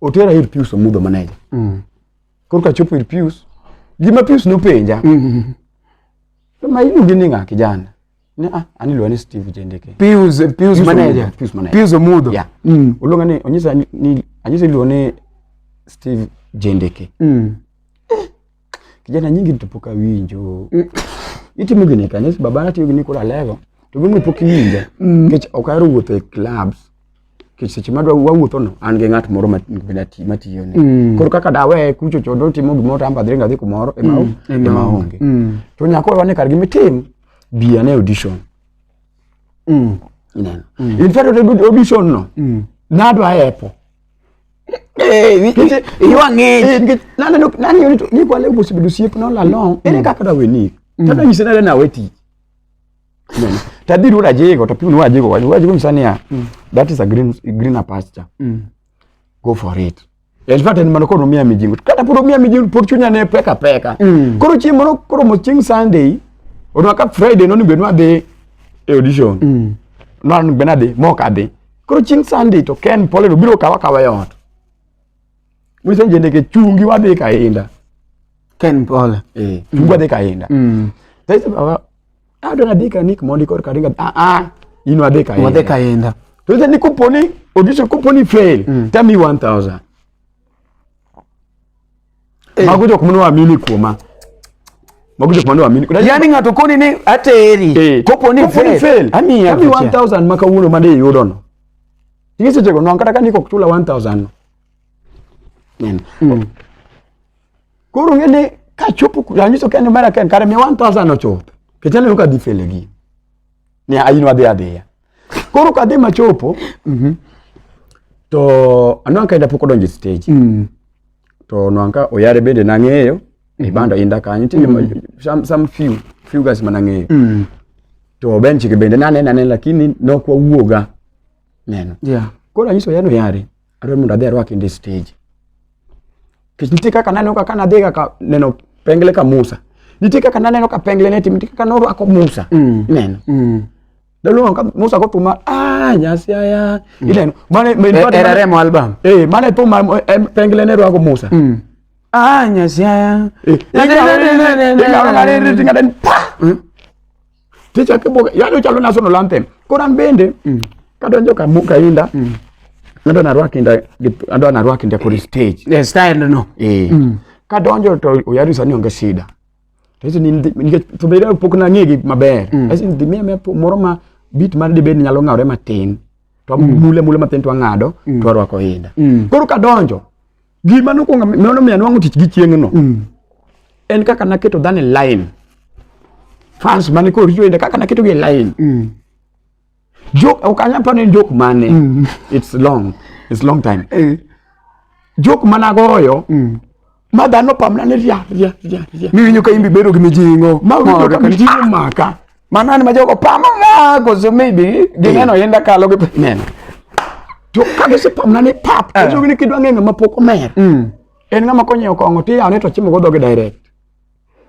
otera ir Pius Omudho maneja mm. koro kachopo ir Pius gima Pius nopenja mm. mm, mm. to ma iluongi ni ng'a kijana ne ah aniluwa ni Steve Jendeke Pius eh, Pius maneja Pius maneja Pius Omudho yeah. mm. oluonga ni onyisa ni anyisa iluwa ni Steve Jendeke mm. Kijana nyingi tupoka winjo. Mm. Itimo gini kanisa baba na tiyo gini kula level. To gini pok winjo. Mm. Kech ok ahero wuotho e clubs. Kech seche madwa wawuotho no an gi ng'at moro ma tiyo ne. Mm. Koro kaka dawe kucho chodo timo gimoro to amba dhiringa dhi kumoro ema mm. ema onge. Mm. To nyako wane kar gimi tim bi ane audition. Mm. Ineno. Mm. In fact audition no. Mm. Nadwa epo. Eh, iwang'e nikech naneno nang'eyo ni to ni kwale osebedo osiep nola long ere kaka dawe ni tada nyise nade nawe tich Neno. tadhi ruda jego to piuni wajego wajego wajego nyisa niya that is a green greener pasture go for it in fact en mano koro omiya mijingo kata pod omiya mijingo pod chunya ne peka peka Mm. koro chieng' moro koro mo chieng' sunday odwa ka friday noni bed nwadhi e audition Mm. nwan bed nadhi mok adhi Koro chieng' Sunday to Ken Poleno biro kawa kawa e ot. Mwiso njendeke chungi wadhi kainda. Ken Pole. Eh, chungi wadhi kainda. Mm. Sasa baba, ah dona dika nik mondi kor karinga. Ah ah, ino wadhi kainda. Wadhi kainda. Sasa ni kuponi audition kuponi fail. Mm. Tell me 1000. Eh. Mago jok mane waamini kuoma. Mago jok mane waamini. Yaani ng'ato koni ni ateri. Eh. Kopo ni fail. fail. Ami ami 1000 maka uno made yudo no. Ingi seche go non kata kani kok chula 1000 no. Nene. Mm. Koro ngene ka chopo kuranyiso kendo mara ken kare mi 1000 ochopo. Kechale uka difele gi. ni aino adhi adhiya koro kadhi machopo mhm. to anwang' ka inda pok odonjo e stage mm. to nwang' ka oyare bende nang'eyo e mhm. banda inda kanyo nitie mm. some few few guys ma nang'eyo mm. to ben chike bende naneno aneno lakini nok wawuoga neno yeah. koro anyiso oyare oyare adwa mondo adhi arwaki ndi stage kech nitie kaka naneno kaka nadhi kaka neno pengle ka Musa nitie kaka naneno ka pengle ne tim nitie kaka norwako Musa mm. neno mm. Daluongo ka Musa ko tuma ah nyasi aya mm. ineno mane me e, era remo album eh mane po pengle ne rwako Musa mm. ah nyasi aya eh, ingawa ngare tinga den pa hmm? Ticha kibuga, yani uchalo national anthem. Koro an bende mm. kadonjo ka muka inda. Mm. Ando na rwaki inda, ando na rwaki inda kuri stage. Yeah, style no. Eh. Mm. Kadonjo to uyari sani onge shida. Ticha ni ni to bere pok na ngegi maber. Mm. Asi ndi mia mia moro ma beat mar de bed nyalo ngawre matin. To mm. mule mule matin to angado mm. to rwako inda. Mm. Koro kadonjo Gima nokwongo mano miya nwang'o tich gi chieng'no. Mm. En kaka naketo dhano e line. Fans mane koro richo inde kaka naketo gi e line. Mm. Joke ok anyal paro ni joke mane. Mm. It's long. It's long time. Eh. Joke mana goyo. Mm. Ma dhano pamna ni ria ria ria ria. Miwinjo ka imbi bedo gi mijing'o. Ma winjo ka mijing'o maka. Mana ni majogo pamo nga koso maybe gineno yenda kalo gi men. To ka gise pamna ni pap, eh. koso gini kidwa ng'enga ma pok omer. Mm. En ng'ama konyo kong'o ti yawne to chimo go dhoge direct.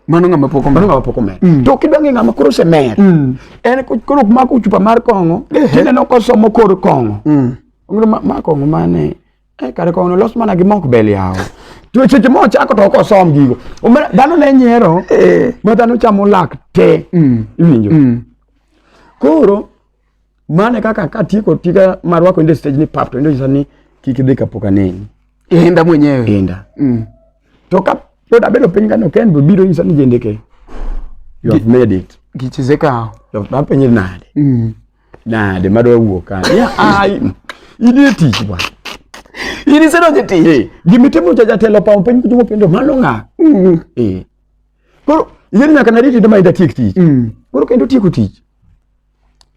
Mano ng'ama pok omer. Mano ng'ama pok omer. Mm. To kidwa ng'enga ma koro se mer. Mm. En koro kuma kuchupa mar kong'o, eh. tineno kosomo kor kong'o. Mm. Ong'ro ma kong'o mane. Eh, kare kono los mana gi mok bel yawo to seche mo chako to okosom gigo dhano ne nyiero eh. ma dhano chamo lak te mm. iwinjo mm. koro mane kaka katieko tika marwako inde stage ni pap to inde nyisa ni kik idhi kapok aneni inda mwenyewe inda mm. to ka pod abedo piny kano ken bo biro nyisa ni jendeke you have made it gichizeka yo napenye nade mm. Nade madwa wuok ka. Ya ai. Idi e tich bwa. Idi sero je tich. Eh, gimitimo cha jatelo pa piny kujumo pendo malo nga. Mm. Eh. Koro yeni nyaka na riti dama ida tiek tich. Mm. Koro kendo tieko tich.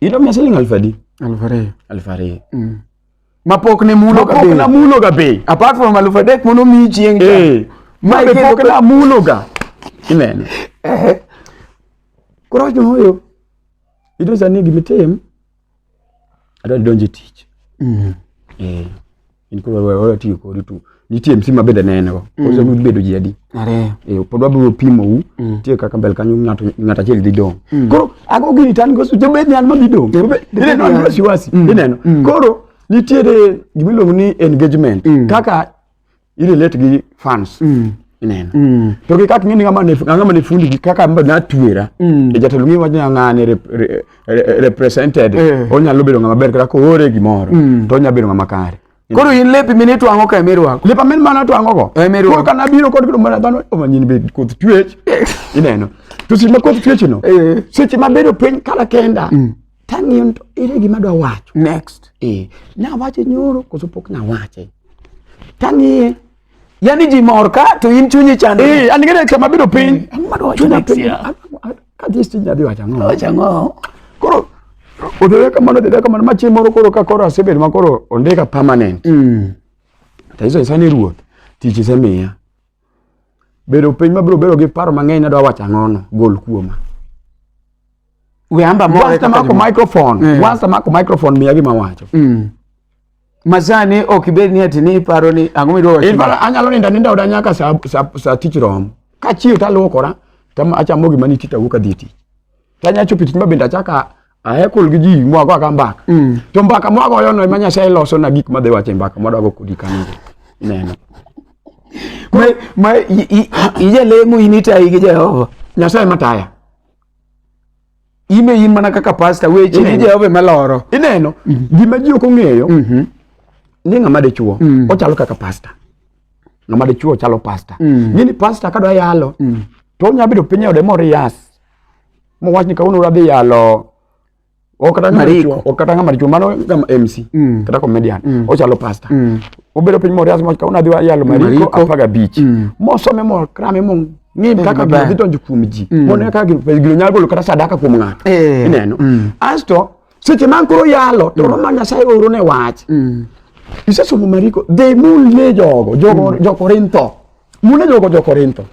Ido mia siling alfu adi? Alfu ariyo. Alfu ariyo. Mm. Mapok ne mulo ga bei. Mapok na mulo ga bei. Apart from alfu adek mono mi chieng' cha. Eh. Ma be pok na mulo ga. Ineno. Eh. Koro jo hoyo. Ito sani gima itim, adwa donjo e tich. Mm. Eh, in koro wewe wewe tiyo kodi tu. Nitie msi mabende ne en go. Koro mm. bedo ji adi. Ariyo. Eh, pod wabiro pimo u. Mm. Tie kaka mbele kanyo ng'ato ng'ato achiel dhi dong. Mm. Koro ago gini tan go su jobed ni an ma dhi dong. Ile no an wasiwasi. Mm. Ineno. Mm. Koro nitiere gimiluongo ni engagement. Mm. Kaka ili let gi fans mm. ineno mm. to gi kak ngini ngama ne ngama ne fundi gi kaka mba na tuera mm. e jatelo ngi wanya ngane re, re, re, represented eh. onya lo bedo ngama ber kaka ko ore gi moro mm. to onya bedo ngama kare koro in lepi mini twango ka emir wako lepa min mana twango go eh, emir wako kana biro kod kido mana dhano oma nyin be koth twech ineno to seche ma koth twech no eh. seche ma bedo piny kala kenda mm. Tang'iyo ni to ere gima adwa wacho. Next. Eh, nawache nyoro koso pok nawache. Tang'iye. Yaani ji mor ka to in chunyi chande. Eh, an gere kama biro piny. Eh, ang'o madwa wacho na piny. Ka dhi stinj nadhi wacho ang'o. Wacho ang'o. Koro odhore kamano odhore kamano ma chieng' moro koro ka koro asebedo ma koro ondika permanent. Mm. To iso isani ruoth tich isemiya. bedo piny mabiro bedo gi paro mang'eny nadwa wacho ang'ono gol kuoma weamba more once amako microphone mm. once amako microphone miya gima wacho mm. masani ok ibed ni ati ni iparo ni ang'o midwa wacho in anyalo ninda ninda oda nyaka sa sa, sa tich rom kachiew taluokora tam achamo gima nitie tawuok adhi tich tanya chopo tich ma bende achaka Ahekul gi ji mwago aga mbaka. Mm. To mbaka mwagoyo no ema Nyasaye loso na gik madhi wache mbaka mwadwago kodi kanyo. Neno. Ma ma ije lemo inita ige Jehova. Nyasaye mataya. Ime in mana kaka pastor weche ni Jehova maloro. Ineno. Mm -hmm. Gima ji ok ong'eyo. Mm -hmm. Ni ng'ama dichuo. Mm -hmm. Ochalo kaka pastor. Ng'ama dichuo ochalo pastor. Mm -hmm. Gini pastor kadwa yalo. Mm -hmm. To onya bedo piny ode mor yas. mo wach ni kawuono radhi yalo okata ngama maricho mano ngama MC mm. kata comedian mm. ochalo pastor mm. obedo piny morias mo kawuono adhi yalo mariko apaga beach mm. mosome mo krame mo ng'im mm, kaka gidhi donjo kuom ji mm. mondo kaka gino nyalo golo kata sadaka kuom ng'ato eh. ineno mm. asto seche man koro yalo to mm. ma nyasaye oro ne wach mm. isesomo mariko dhi mulie jogo mm. jokorintho mune jogo jokorintho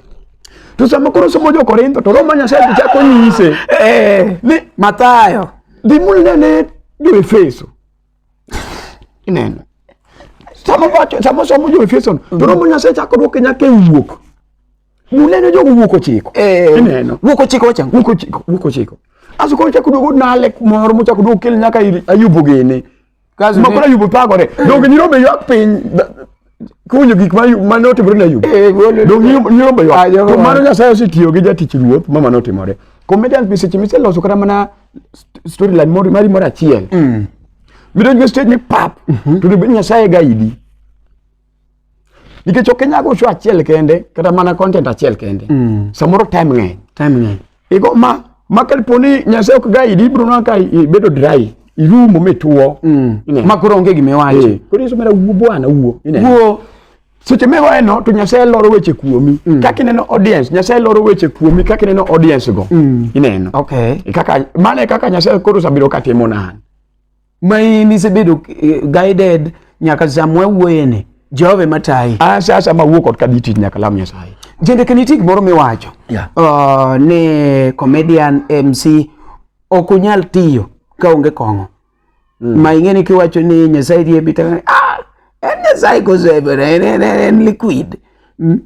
to sama koro somo jokorintho to roma nyasaye to chako nyise eh. ni matayo dhi mulie ne joefeso ineno sama somo joefeso to roma nyasaye chako dwoke nyaka e wuok Mula ne jogo wuok ochiko. Eh, Ineno. Wuok ochiko wachango. Wuok ochiko, wuok ochiko. Aso koro chako duogo nale moro mochako duogo kel nyaka ir Ayubu gini. Kaso Ma ne- koro Ayubu pagore. Donge nyirombe ywak piny da- kunyo gik ma Ayubu- ma ne otimore ne Ayubu. Eh, golo- Donge nyiro- nyirombe Ah, ywak. jogo To ma- mano Nyasaye osetiyo gi jatich ruoth ma mano otimore. Comedians be seche miseloso kata mana st- storyline moro mari moro achiel. Midonjo e stage ni pap. To dibed Nyasaye guide. nikech ok inyago show achiel kende kata mana content achiel kende mm. samoro time ng'eny time ng'eny igo ma ma kapo ni nyasaye ok ga idi ibro nwa ka ibedo dry irumo mituo mm. ma koro onge gima iwacho eh. koro iso mera wuo bwana wuo wuo seche miwaye no to nyasaye loro weche kuomi mm. kaka ineno audience nyasaye loro weche kuomi kaka ineno audience go mm. ineno okay. kaka mane kaka nyasaye koro sabiro katimo nan ma in isebedo eh, guided nyaka samwa wuoyeni jehova ema tayi asa asa ma wuok ot ka dhi tich nyaka lam nyasaye jende ka nitie gimoro miwacho Yeah. uh, ni comedian mc ok unyal tiyo ka onge kong'o mm. ma ing'e ni kiwacho ni nyasaye riembi to ah, en nyasaye kosebere en, en, en, en liquid mm.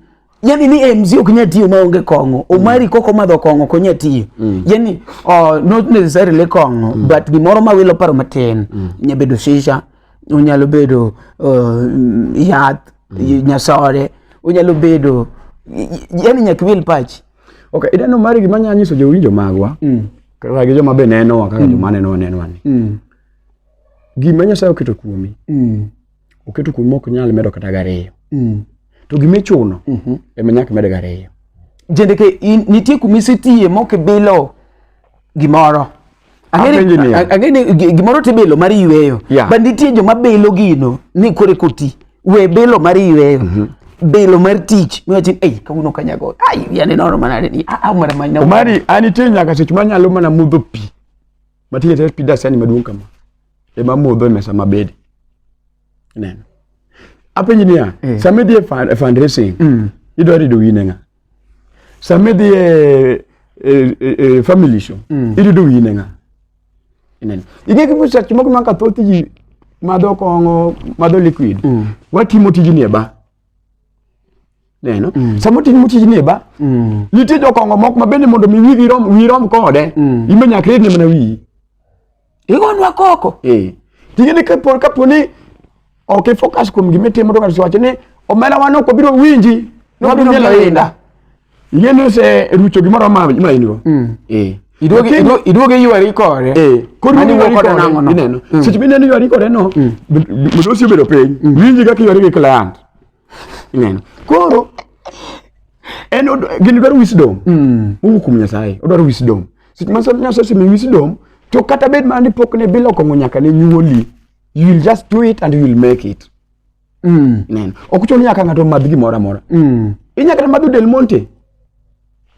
yani ni eh, mzee okinya tiyo maonge kong'o omari mm. koko madho kong'o konya tiyo mm. yani uh, not necessarily kong'o mm. but gimoro ma wilo paro matin mm. nya bedo shisha onyalo bedo uh, yath mm. nyasore onyalo bedo yani nyaka wil pachi okay idano mari gima nya nyiso jowinjo magwa mm. kaka gi joma be nenowa kaka mm. joma nenowa nenowa ni mm. gima nyasaye oketo kuomi mm. oketo kuno mok nyal medo kata gariyo mm. to gima ichuno mm -hmm. ema nyaka med gariyo jendeke nitie kuma isetiye mok ibilo gimoro ang'e ni gimoro tibilo mar yweyo yeah. but nitie joma bilo gino ni kore koti we bilo mar yweyo mm -hmm bilo mar tich miwachi ei kawuono kanyago ai yani nono manade ni a ah, ah, mara manya omari anitie nyaka seche manyalo mana mudho pi matiye tet pi dasani maduong' kama ema modho e mesa mabedi ineno apenji niya eh. sama idhi e, e fundraising mm. idwa rido wine ng'a sama idhi e, e, e, e family show mm. irido wine ng'a ineno ing'e kipo seche moko maka thoth ji madho kong'o madho liquid mm. watimo tijni e ba neno mm. samo timo tijni e ba mm. nitie jokong'o moko ma bende mondo mi wigi rom wi rom kode mm. imbe nyaka iridne mana wiyi Igonwa koko. Eh. Tije ni kapor kaponi ok ifocus kuom gima itimo to ng'ato wacho ni omera wan ok obiro winji ne wabiro mielo inda. Yie ni ose rucho gimoro ma ma in go. Mm. Eh. Iduogi Lakini- iduogi- iduogi yuari kore. Eh, koro Mani iwuok wuok kode kode nang'o no? ineno. Mm. Seche mineno ywari kode no, modosi obedo piny. Winji kaka ywari gi client. Ineno. Koro en gini dwaro wisdom. Mm. Mungu kum Nyasaye, odwaro wisdom. Seche ma Nyasaye osemi wisdom, to kata bed mana ni pok ne bilo kong'o nyaka ne nyuoli, you will just do it and you will make it. Mm. Ineno. Ok chuno nyaka ng'ato madh gimoro amora. Mm. Inyaka kata madho Del Monte.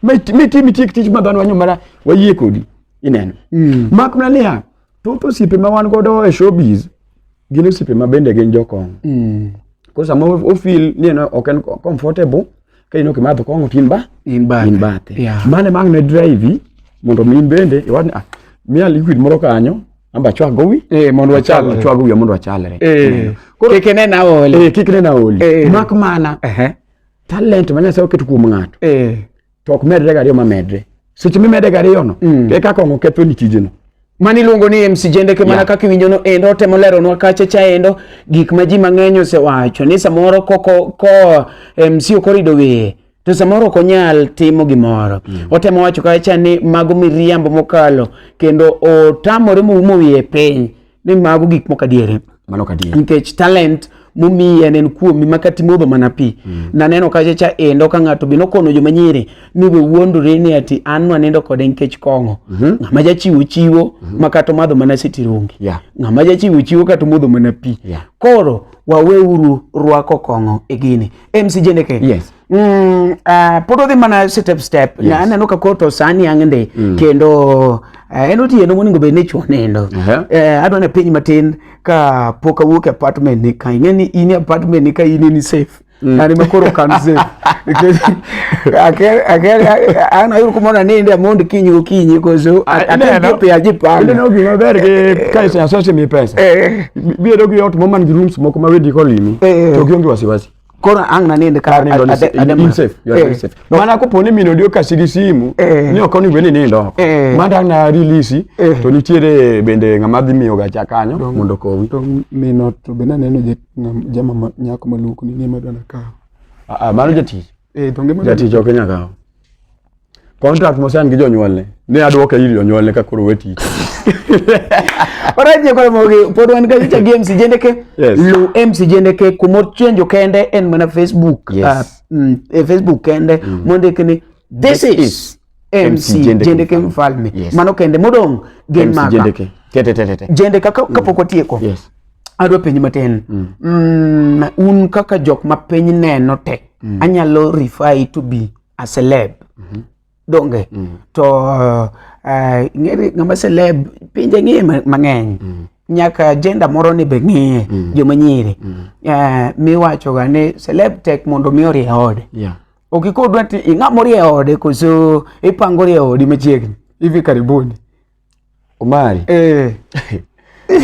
Miti miti miti tich madhano wanyo mara wayie kodi. Ineno. Mm. Mak mana niya, thoth osiepe ma wan godo e showbiz gin osiepe ma bende gin jokong mm. ko sama ofil ni en ok en comfortable ka in ok imadho kong'o to in ba in bathe, in bathe. Yeah. mane mang ne drive mondo mi in bende iwach ni ah, miya liquid moro kanyo amba chwag gowi eh mondo wachalre chwag gowi mondo wachalre eh kik ne na oli eh kik ne na oli eh. mak mana eh talent ma nyasaye oketo kuom ng'ato eh to ok medre gariyo ma medre seche mimede gariyo no mm. e kaka ongo ketho ni tijeno mani luongo ni MC Jende ke mana kaka iwinjo no endo temo lero nwa kacha cha endo gik ma ji mang'eny osewacho ni samoro koko ko MC okorido wiye to samoro ok onyal timo gimoro mm. otemo wacho kacha ni mago miriambo mokalo kendo otamore moumo wiye piny ni mago gik moko adiere mano kadier nikech talent momiyi en en kuomi ma kata imodho mana pi mm. naneno kacha cha endo ka ng'ato be nokono joma nyiri ni be wuondore ni ati an nanindo kode nikech kong'o mm -hmm. ng'ama jachiwo chiwo mm -hmm. ma kata omadho mana sitirongi yeah. ng'ama jachiwo chiwo kata omodho mana pi yeah. koro waweuru rwako kong'o e gini mcjneke yes. Mm, uh, pod odhi mana step step yes. aneno ka koro to sani ang' ndi mm. kendo uh, en otieno monego bed ni chwo nindo uh -huh. uh, eh, adwa ne piny matin ka pok awuok e apartment ni ka ing'e ni in e apartment ni ka in ni safe mm. yani makoro kan safe an ayudo kumoro aninde amond kinyi okinyi koso atepe ajipanga ineno gima ber gi eh, eh, ka iseasose mi pesa biyedo gi ot moman gi rooms moko ma wedi kolimi to gionge wasiwasi koro ang' nanind kar Nindo ni- ade- ade- in safe, you are very Eh, safe. Mana kopo ni min odi okasi gi simu Eh. ni ok onego bed ni nindo oko. Eh. Mano dang' na release Eh. to nitiere bende ng'ama dhi miyo gacha kanyo mondo okowi. to mino to be naneno je- ngam- jama ma- nyako maluku ni ng'ema dana kawo Ah, ah, Mano jatich. Eh, to ng'ema dana- Jatich ok nyakawo. contract mosan gi jonyuolne ne adwoke ir jonyuolne ka koro weti Alright, nyakore mogi pod wan ka nyicha gi MC Jendeke. Yes. Lu MC Jendeke kumor chenjo kende en mana Facebook. Yes. Ah, mm, eh, Facebook kende mondike ni this is MC Jendeke Mfalme. Yes. Mano kende modong gen MC maka. Jendeke. Tete tete tete. Jendeke ka- kapok watieko. Yes. adwa penj matin mm, un kaka jok ma piny neno te anyalo refer to be a celeb mm -hmm. donge mm -hmm. to uh, ng'ere ng'ama celeb pinje ng'e mang'eny mm -hmm. nyaka jenda moro ni be ng'iye mm -hmm. joma nyiri mm -hmm. uh, eh, miwachoga ni celeb tek mondo mi orie ode yeah. okikodwa ti ing'amorie ode koso ipangori e odi machiegni hivi karibuni Omari. Eh.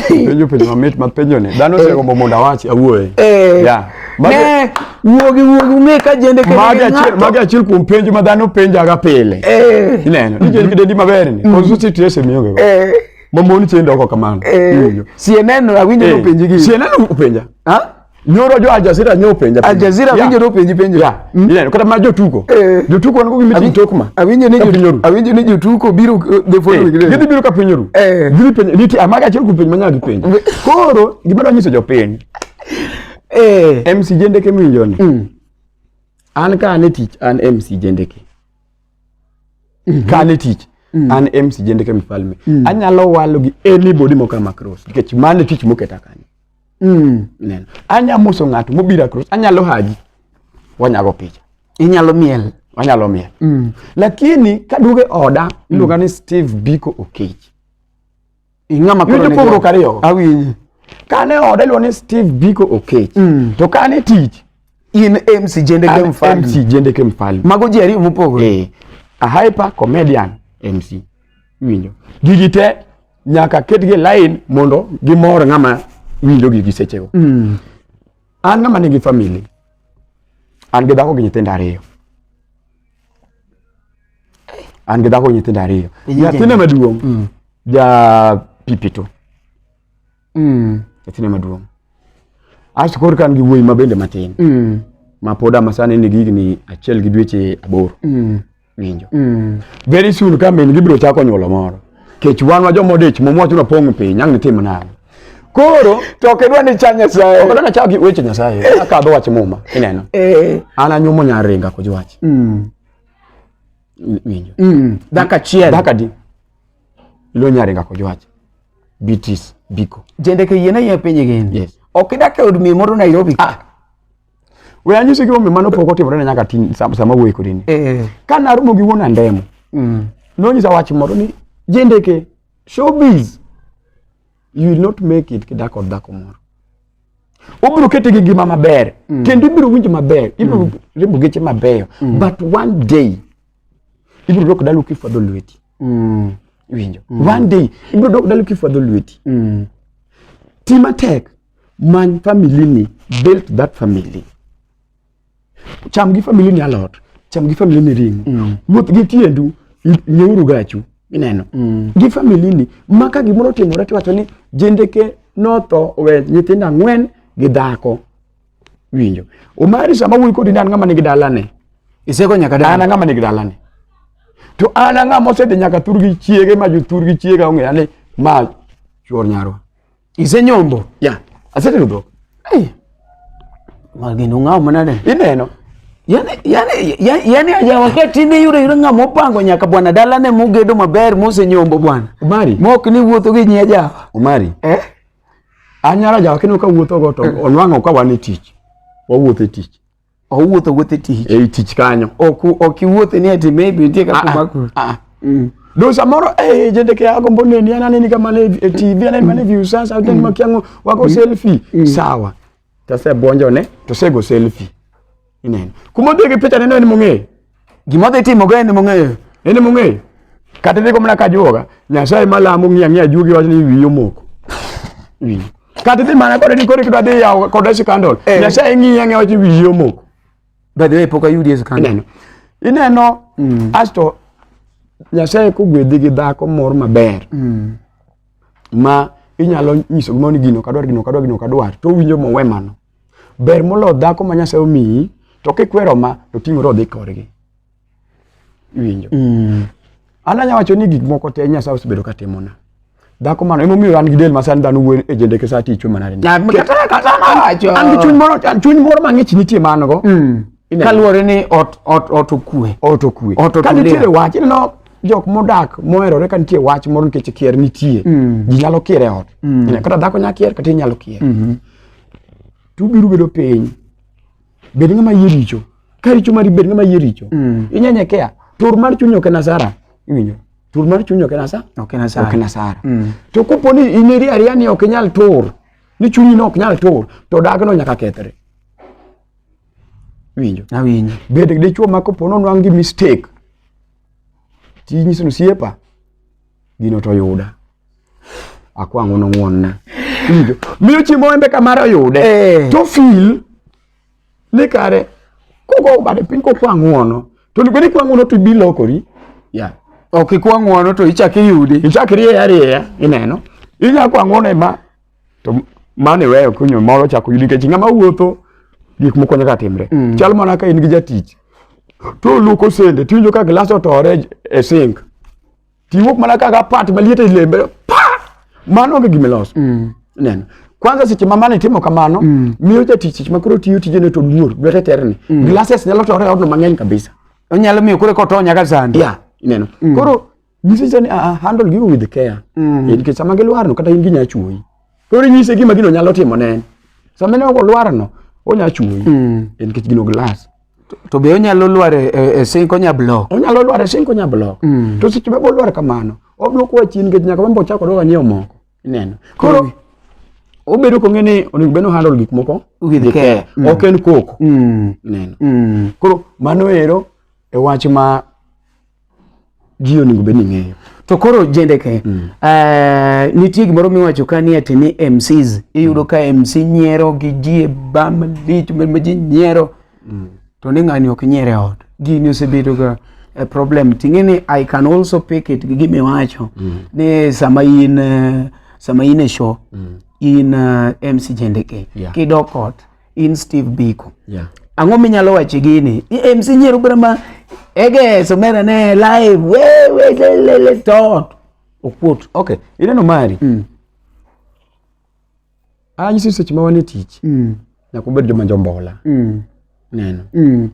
penjo penjo mamit ma penjo ni dhano osegombo mondo awachi awuoye Eh. Yeah. Magi- Ne, wuogi wuogi ung'e ka jende kendo magi gi achiel ng'ato. magi achiel kuom penjo ma dhano penjaga pile Eh. ineno ni jend kidendi maber ni koso siti ese miyoge go Eh. mamoni chendo oko kamano Eh. Iwinjo? Sieneno awinjo Eh, nopenji gi. sieneno upenja Ha? Nyoro jo Aljazeera nyo penja. Aljazeera winjo no penji penjo. Ya. Hmm? Ile kata ma jotuko. Eh. Jotuko wan kugi mitin tokma. Awinjo ni jotuko. Awinjo ni jotuko biro eh, the following eh, day. Gidhi biro ka pinyoru. Gidhi penjo niti amaga achiel ku penjo manya gi penjo. Koro gima dwanyiso jopiny. Eh. MC Jendeke minjo ni. Hmm. An ka an e tich an MC Jendeke. Mhm. Ka an e tich mm. an MC Jendeke mfalme. Mm. Anyalo walo gi anybody moka Macross. Nikech mane tich moketa kanyo. Mm. Anya moso ng'ato mobiro a cross, anyalo hagi. Wanyago picha. Inyalo miel. Wanyalo miel. Mm. Lakini kaduogo e oda, mm. iluonga ni Steve Biko Okech. Ing'ama koro ne. Yudo ariyo. Awinyi. Kane oda iluonga ni Steve Biko Okech. Mm. To kane tich in MC Jendeke Mfalme. MC Jendeke Mfalme. Mago ji ariyo mopogore. Eh. A hyper comedian MC. Winjo. Gigi te nyaka ketgi e lain mondo gimor ng'ama winjogi gi sechego mm. an ng'ama nigi famili an gi dhako gi nyithindo ariyo an gi dhako gi nyithindo ariyo nyathina maduong' mm. ja pipito mm. nyathina maduong' asto koro ka an gi wuoyi ma bende matin mm. ma pod ama sani nigi higni achiel gi dweche aboro mm. winjo mm. very soon ka min gibiro chako nyuolo moro kech wan wa joma odich mom wachuno pong' piny ang' nitim nang'o koro to ok idwa ni cha nyasaye ok idwa ni cha gi weche nyasaye eh. akadho wach muma ineno eh. an anyumo nya ringa koj wach mm. winjo mm. dhaka achiel dhaka di ilo nya ringa koj wach bitis biko jende ke yiena yie piny gin yes ok idak e od mi moro Nairobi ah We anyisi gi omi mano pok otimore na nyaka tin sam- sama wuoyi kodi ni. Eh. Ka naromo gi wuon andemo, Mm. nonyisa wach moro ni jendeke showbiz you will not make it kidak kod dhako moro. Obiro kete gi ngima maber kendo ibiro winjo maber, ibiro riembo geche mabeyo but one day ibiro dok dalu kifwadho lweti. Mm. Iwinjo? One day ibiro dok dalu kifwadho lweti. Mm. Ti matek many family ni build that family cham gi family ni alot cham gi family ni ringo mm. wuoth gi tiendu nyeuru gachu ineno mm. gi family ni ma ka gimoro timore tiwacho ni jendeke notho owe nyithindo ang'wen gi dhako winjo omari sama wuoyi kodi ni an ng'ama nigi dalane iseko nyaka dala an ng'ama nigi dalane to an ang'ama osedhi nyaka thur gi chiege ma jothur gi chiega ong'eya ni ma chuor nyarwa Ise nyombo. Yeah. Asetedo dhok. Hey. Magino ng'aw manade. Ineno. Yani, yani, yani, yani aja wakati ne yure yure ng'ama opango nyaka bwana dala ne mugedo maber mose nyombo bwana. Umari. Mok ni wuotho gi nyi aja. Umari. Eh? Anyara aja wakati ne ka wuotho go to onwang'o ka wan e tich. Wawuotho e tich. owuotho wuothe tich ei tich kanyo ok ok iwuothe ni ati maybe nitie kaka ah, ah, makuru ah, ah. mm. do samoro eh jende ke ago mbone ni anane ni kama le eh, TV anane mane view sasa mm. makiango wako mm. selfie mm. sawa tase bonjo ne to sego selfie inene kuma dege picha neno ni mong'e Gima dhi timo ga en mong'eyo. En mong'eyo. Kata dhigo mana ka juoga, Nyasaye malamo ng'iya ng'iya juogi wachni wiyo moko. Wiyo. Kata dhi mana kode ni kore kidwa dhi yawo kode sikandol. Eh. Nyasaye ng'iya ng'iya wachni wiyo moko. By the way, pok ayudi e sikandol. Ineno. Ineno, mm. asto Nyasaye kogwedhi gi dhako moro maber. Mm. Ma inyalo nyiso gimoro ni gino kadwar gino kadwar gino kadwar to owinjo mowe mano. Ber moloyo dhako ma Nyasaye omiyi to kikwero ma to ting'ore odhi korgi. Iwinjo? Mm. An anyalo wacho ni gik moko te Nyasaye osebedo ka timona. Dhako mano emomiyo an gi del ma sani dhano wuoyo e jendeke sa ticho mana ni. Na kata kata wacho. An gi chuny moro chuny moro mang'ich nitie man go. Mm. Kaluwore ni ot ot ot okue. Ot okue. Ot ot. Ka nitie wach ineno jok modak moherore ka nitie wach moro nikech kier nitie mm. ji nyalo kier e ot mm. kata dhako nyalo kier kata inyalo kier mm -hmm. to ubiro bedo piny bed ng'ama yie richo ka richo mari bed ng'ama yie richo mm. inyenye kea tur mar chuny ok en asara iwinjo tur mar chuny ok en asara ok en asara ok en asara mm. to kopo ni in iri ariya ni ok inyal tur ni chunyi no ok nyal tur to dagno nyaka kethre winjo awinjo bed dichuo ma kopo ni onwang' gi mistake tinyiso ni osiepa gino to yuda akwang'o nong'wonna winjo miyo chiemo embe kamare oyude eh. to fil ni kare kogo bade piny kokwang'wono to onego ni kwang'wono to ibi lokori ya ok ikwang'wono to ichak iyudi ichak irieya arieya ineno inya kwang'wono ema to mano iweyo kunyo moro chako yudi nikech ng'ama wuotho gik moko nyaka timre mm. chal mana ka in gi jatich to luoko sende tiwinjo ka gilas otore e sink tiwuok mana kaka pat maliet e lembe pa mano onge gima iloso mm. neno kwanza seche ma mane timo kamano mm. miyo jatich seche ma koro tiyo tijene to luor lwete terni mm. glasses nyalo tore e odno mang'eny kabisa onyalo miyo koro koto nyaka sandi yeah, ineno mm. koro nyisise ni uh, handle gigo with care mm. nikech sama gilwarno kata in ginya chuoyi koro inyise gima gino nyalo timo ne en sama ne olwarno onya chuoyi mm. nikech gino glass to be onyalo lwar e, e, e sink onya block onyalo lwar e sink onya block mm. to seche ma bolwar kamano odwoko wa chien nikech nyaka wembo chako doga nyiewo moko ineno koro obedo kong'e ni onego bed handle gik moko with care mm. ok en koko mm. ineno mm. koro mano ero e wach ma ji onego bed ni ng'eyo to koro jendeke mm. uh, nitie gimoro miwacho ka ni ati ni mcs iyudo mm. ka mc nyiero gi ji e ba malich ma ji nyiero mm. to ni ng'ani ok nyiere e ot gini osebedo ga a eh, problem ting'e ni i can also pick it gi gimiwacho mm. ni sama in uh, sama in e show mm. in uh, mc jendeke yeah. kidok ot in Steve Biko. Yeah. Ang'o minyalo wache gini? EMC nyiero bura ma ege somera ne live we we le le le to okuot. Okay. Ineno mari. Mm. Anyi sisi seche ma wan e tich. Mm. Nyaka ubed joma jombola. Mm. Neno. Mm.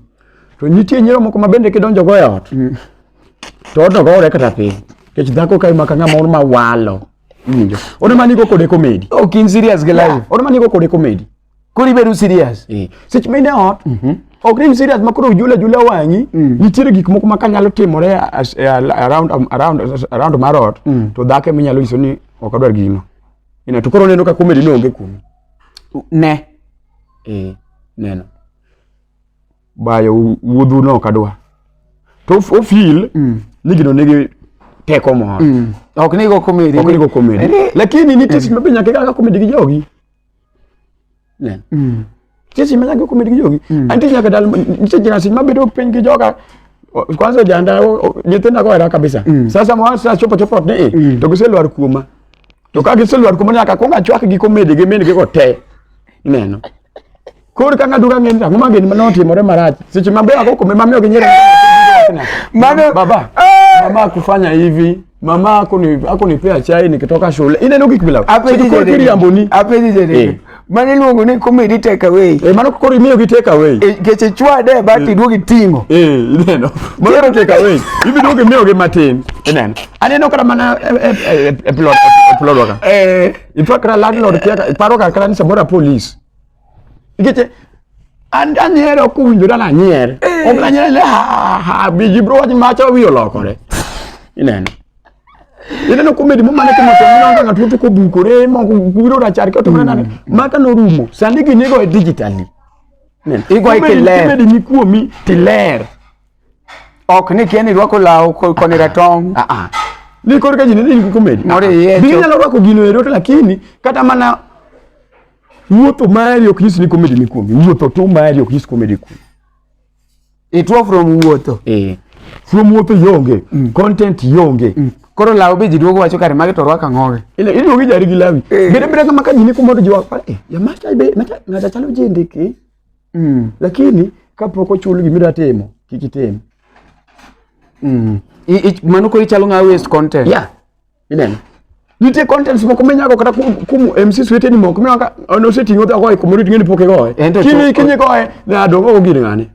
To nitie nyiero moko ma bende kidonjo go e ot. Mm. To odno gore kata piny. Kech dhako ka imaka ng'ama un ma walo. Ninjo. Ona mani go kode comedy. Oh, kin serious ge live. Ona mani go kode comedy. Kuri beru serious. Eh. Sech mine ot. Mhm. Mm ok ni serious makoro ujula jula wang'i mm. nitiere gik moko ma kanyalo timore eh, around um, around around marot mm. to dhake minyalo nyiso ni ok adwar gino ina to koro neno ka comedy no onge kuno ne eh neno bayo wuodhu no kadwa to o feel mm. ni gino nigi teko moro mm. ok ni go comedy ok ni go comedy lakini ni tisi mm. mabe nyaka ga comedy gi jogi ne mm. tisi mabe nyaka comedy gi jogi mm. anti nyaka dal nche jina sin mabe dok piny gi joga kwanza janda nyithinda go era kabisa mm. sasa mwa sasa chopo chopo ne mm. to giselwar kuoma to ka giselwar kuma nyaka kwong achwak gi komede gi min gi go te ineno koro ka ng'aduka ng'eni ang'o ma gini mane otimore marach seche maber ako kome mamiyo gi nyere Mano- baba mama akufanya hivi mama akuni- akunipea chai nikitoka shule ineno gik bila Hapo hizi Sijui kwa zile- kiriamboni hapo hizi zile- Eh. mane iluongo ni comedy take away eh mano koro imiyo gi take away eh keche chwade but eh. iduogi tingo eh ineno mano take away ibiduogi miyo gi matin ineno aneno kata mana eh, eh, e plot e plot waka eh itwa kra landlord kia paro ka kra ni samora police keche and and here okuwinjo dala nyer ok na nyer le ha ha biji bro wach macha wiyo lokore ineno ineno komedi momane ka ng'ato ng'ina onge ng'ato wuotho kobukore moko biro rachar ka otimore nade maka norumo sani gini igo e digitally igo e kiler komedi ni kuomi tiler ok ni kia ni rwako law koni ratong ah, ah. ni koro ka ji nene nigi komedi binyalo ah, rwako gino ero to lakini kata mana wuotho mari ok nyis ni komedi ni kuomi wuotho tu mari ok nyis komedi kuomi Ituo from wuotho. Eh. From wuotho yonge. Mm. Content yonge. Mm. Koro lawo be ji duogo wacho kare magi to rwaka ng'oge. Ile iduogo ijari gi lawi. Eh. Bede bede kama kajini kumodo ji wako. Eh, ya macha be macha ngata chalo ji ndiki. Mm. Lakini kapok ochul gimira timo, kik itim. Mm. I, i, mano ko ichalo ng'a waste content. Yeah. Ineno? Nitie contents moko minyago kata kum, kum MCs weteni moko mineno ka on oseting'o odhi ogoye kumoro iting'eni pok igoye. En to Kiny chuth- kiny igoye ne adong' ogo gir ng'ane.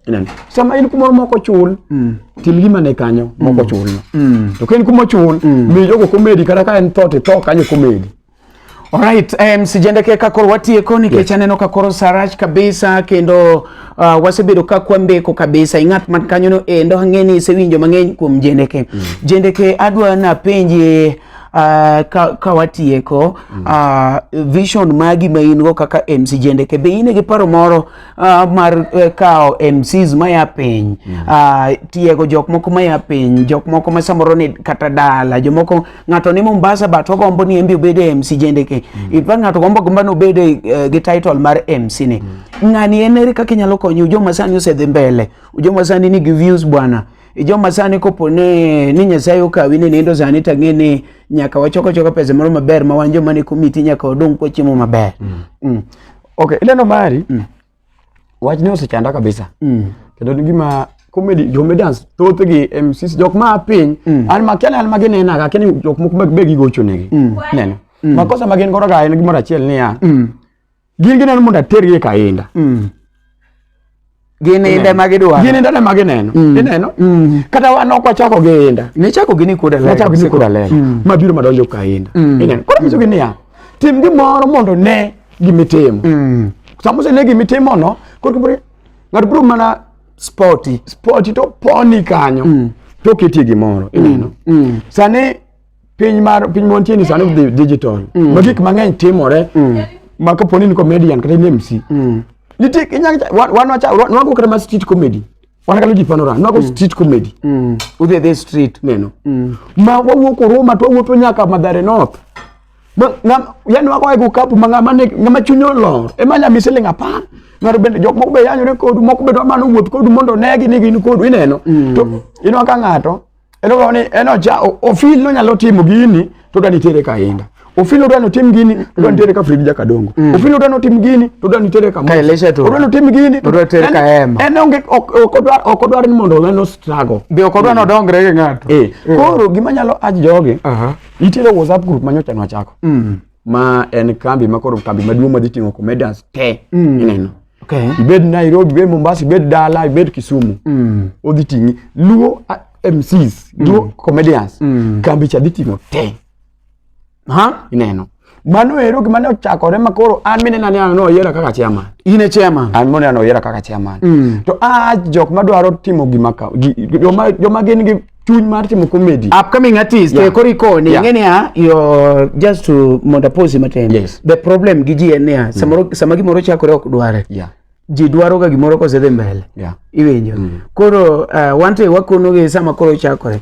Ineno? Sama in kumoro moko chul, tim gima ne kanyo moko chulno. To ka in kuma ochul, mi jogo komedi kata ka en thot itho kanyo komedi. Alright, um, sijendeke ka koro watieko nikech yes. aneno ka koro sarach kabisa kendo uh, wasebedo ka kwambeko kabisa ing'at man kanyono endo ang'e ni isewinjo mang'eny kuom jendeke mm. jendeke adwa napenje uh, ka, ka watieko mm. uh, vision magi ma in go kaka MC jendeke be in gi paro moro uh, mar uh, kawo MCs maya piny mm. uh, tiego jok moko maya piny jok moko ma samoro ni kata dala jomoko ng'ato ni Mombasa but ogombo ni embe obed e MC jende ke mm. in fact ng'ato gombo gombo no obed e, eh, gi title mar MC ni mm. ng'ani en eri kaka inyalo konyo joma sani osedhi mbele joma sani nigi views bwana joma sani kopo ne ni nyasaye okawi ni nindo sani to ang'e ni nyaka wachoko choka pesa moro maber ma wan joma ni komiti nyaka wadong kwachiemo maber mm. mm. okay ileno mari mm. wachni osechanda kabisa mm. kendo ni gima comedy comedians thothgi e MCs jok ma piny mm. an makiana an magi nena ga keni jok moko mag begi gocho negi mm. neno mm. makosa magen goro ga en gimoro achiel niya mm. gin gineno mondo atergi e kainda mm. gin inda ma gidwaro gin inda ma gineno mm. ineno mm. kata wan ok wachako gi inda ne chako gini kuda lego ne chako gini kuda lego mm. mabiro madonjo ka inda mm. ineno koro nyiso gi niya tim gimoro mondo ne gimitimo mm. sama osene gimitimono koro ng'ato biro mana spoti spoti to poni kanyo mm. to oketie gimoro mm. ineno mm. sani piny mar piny mwantie ni sani dhi digital mm. ma gik mang'eny timore mm. ma kaponi ni comedian kata ni mc mm. nitie inyalo wan wacha nwago kata ma street comedy wan kalo ji panora nwago mm. street comedy mm. udhi adhi street neno mm. ma wawuok oruma to wawuotho nyaka madhare north yani wago ego kapu ma ng'ama chuny olor ema nya mi siling apar ng'ato bende jok moko be yanyore kodu moko be dwa mana wuoth kodu mondo negi ni gin kodu ineno mm. to inwa ka ng'ato Eno ni eno ja ofil no nyalo timo gini to dani tere ka inda. Ofil no dani tim gini to dani tere ka Fred Jaka Dongo. Mm. Ofil no dani tim gini to dani tere ka Ka Elisha to. Dani tim gini to dani tere ka Ema. Eno onge okodwar okodwar ni mondo ngano struggle. Be okodwar mm. no dongre gi ng'ato. Eh. Mm. Koro gima nyalo aj jogi. Aha. Uh -huh. Itero WhatsApp group manyocha no chako. Mm. ma en kambi ma koro kambi maduong' ma dhi ting'o comedians te mm. ineno okay. ibed Nairobi ibed Mombasa ibed dala ibed Kisumu mm. odhi ting'i luo MCs mm. luo comedians mm. kambi cha dhi ting'o te ha ineno mano ero gima ne ochakore ma koro an mine nane an noyiera kaka chairman in e chairman an mine an noyiera kaka chairman mm. to a jok madwaro timo gima ka joma joma gin gi chuny mar timo comedy upcoming artist yeah. kori koni yeah. ngene ya yo just to mondo pose matin yes. the problem gi ji en ya mm. samoro sama gimoro chakore ok dware yeah ji dwaro ga gimoro kose dhi mbele yeah. iwinjo mm. koro uh, eh, wante wakono gi sama koro chakore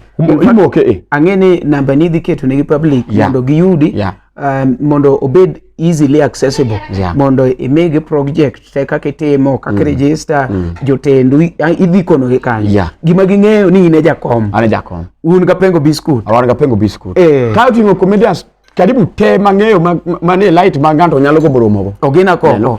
imoke e eh. ang'e ni namba ni idhi keto ne gi public yeah. mondo giyudi yeah. um, mondo obed easily accessible yeah. mondo imigi project te kaka itimo kaka mm. register mm. jotendu idhi konogi kanyo yeah. gima ging'eyo ni in e jakom an e jakom un ga pengo biscuit wan ga pengo biscuit eh. ka oting'o comedians karibu te mang'eyo mane light ma ng'ato nyalo gombo romogo ogina koko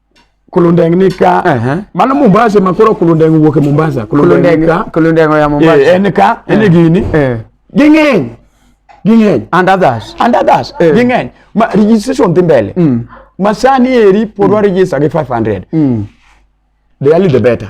Kulundeng ni ka. Uh -huh. Mano Mombasa ma koro Kulundeng wuok e Mombasa. Kulundeng ni ka. Kulundeng ya Mombasa. Eh, en ka, en eh. gini. Eh. Ging'eny. Ging'eny. And others. And others. Eh. Ging'eny. Ma registration dhi mbele. Mm. Masani eri pod mm. warejista gi 500. Mm. The early the better.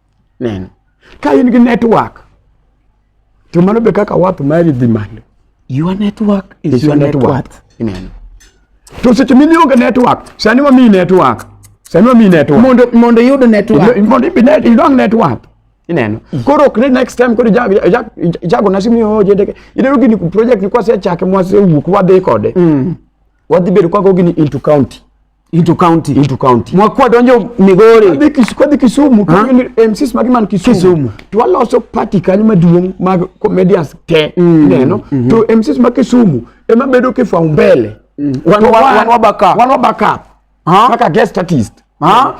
neno ka in gi network to mano be kaka wath mari dhi malo your network is, is your, your network. network. Ineno. to seche mine onge network sani wamiyi network sani wamiyi network mondo mondo iyud network mondo ibi net idong network ineno koro ok ni next time koro jago na simu yo jedeke ineno gini project kwa se chake mwase wuok wadhi kode mm. wadhi bedo kwa go gini into county into county into county mwakwa donjo migori adhi kis kodhi kisumu kagin mcs magi man kisumu kisumu to waloso party kanyo maduong mag comedians te mm. neno mm -hmm. to mcs ma kisumu ema bedo kifwa umbele mm. wan wan wabaka wan wabaka ha kaka guest artist ha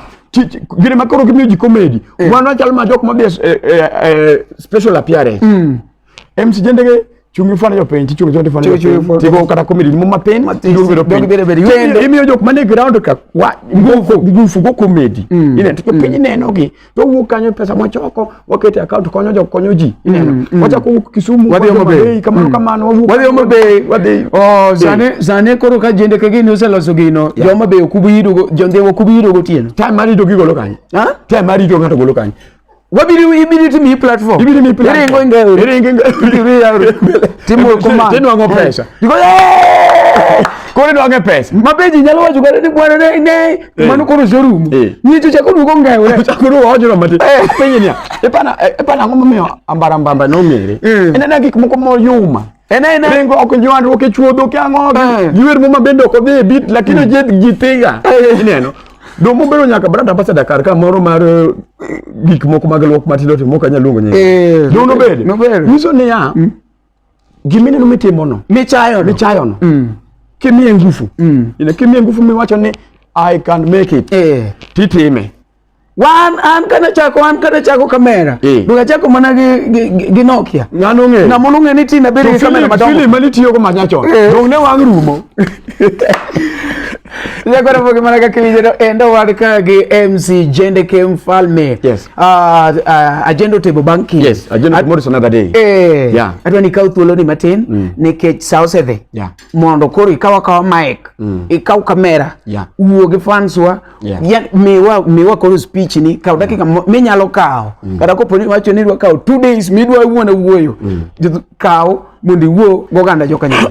gine makoro gimiyo ji comedy eh. wan wachal ma jok ma be eh, eh, eh, special appearance mm. Em si jende ke chungi fana jo penji chungi jonde fana jo tigo kata komedi mo ma pen tigo bedo pen bedo bedo kendo imiyo jok mane ground ka wa ngufu ngufu go komedi mm. ine to mm. piny neno gi to wuok kanyo pesa mo choko wakete account konyo jok konyo ji mm. ineno wacha ku Kisumu wadhi omo be kamano kamano wuok wadhi omo be wadhi oh zane zane koro ka jende ke gini oseloso gino joma be okubiyido jonde okubiyido gotieno time mari do gigolo kanyo ha time mari do ngato golo kanyo wabiri ibiri timi hii platform ibiri mi platform iri ngo ngeo iri ngo ngeo iri ya timu kuma tinu wango pesa ndiko eh kore nwange pesa mapeji nyalo wacho kare ni bwana ne ne eh. manu koro showroom eh. ni cho chako nuko ngeo re chako nuko wacho no mate eh. penye ni epana epana ngoma me ambara mbamba no mere ene na gik moko mo yuma ene ene rengo ok nywan roke chuodho kyango yuer muma bende ok odhi bit lakini jed gitiga ineno Dong obedo nyaka brand ambassador kar ka moro mar eh, gik moko mag luok matindo timo kanya luongo nyinge. Eh, Dong nobed. nobed. Nyiso niya, mm. gimineno mitimono. Michayono. Michayono. Mm. Kimiye ngufu. Mm. Ina kimiye ngufu miwacho ni I can make it. Eh. Titime. Wan an kana chako an kana chako kamera. Eh. Duka chako mana gi gi, gi, gi Nokia. Ngano nge. Na mono nge ni tina beri kamera madongo. Film mali tiyo ko manyacho. Eh. Dong ne wang rumo. Nyakwara mboge mana kaka iwinjeno endo wan ka gi MC Jende K Mfalme. Yes. Uh, uh, Agenda otebo bang' kiny. Yes, agenda tomorrow is another day. Eh. Yeah. Adwa ni kaw thuoloni matin mm. nikech sa osedhi. Yeah. Mondo koro ikaw akawa mic, mm. ikaw kamera, yeah. wuo gi fans wa, yeah. ya, miwa, miwa koro speech ni, kaw dakika mm. minyalo kawo. Mm. Kata kopo ni wacho ni idwa kawo two days midwa wuon wuoyo. Mm. Kaw mondo iwuo goganda joka nyalo.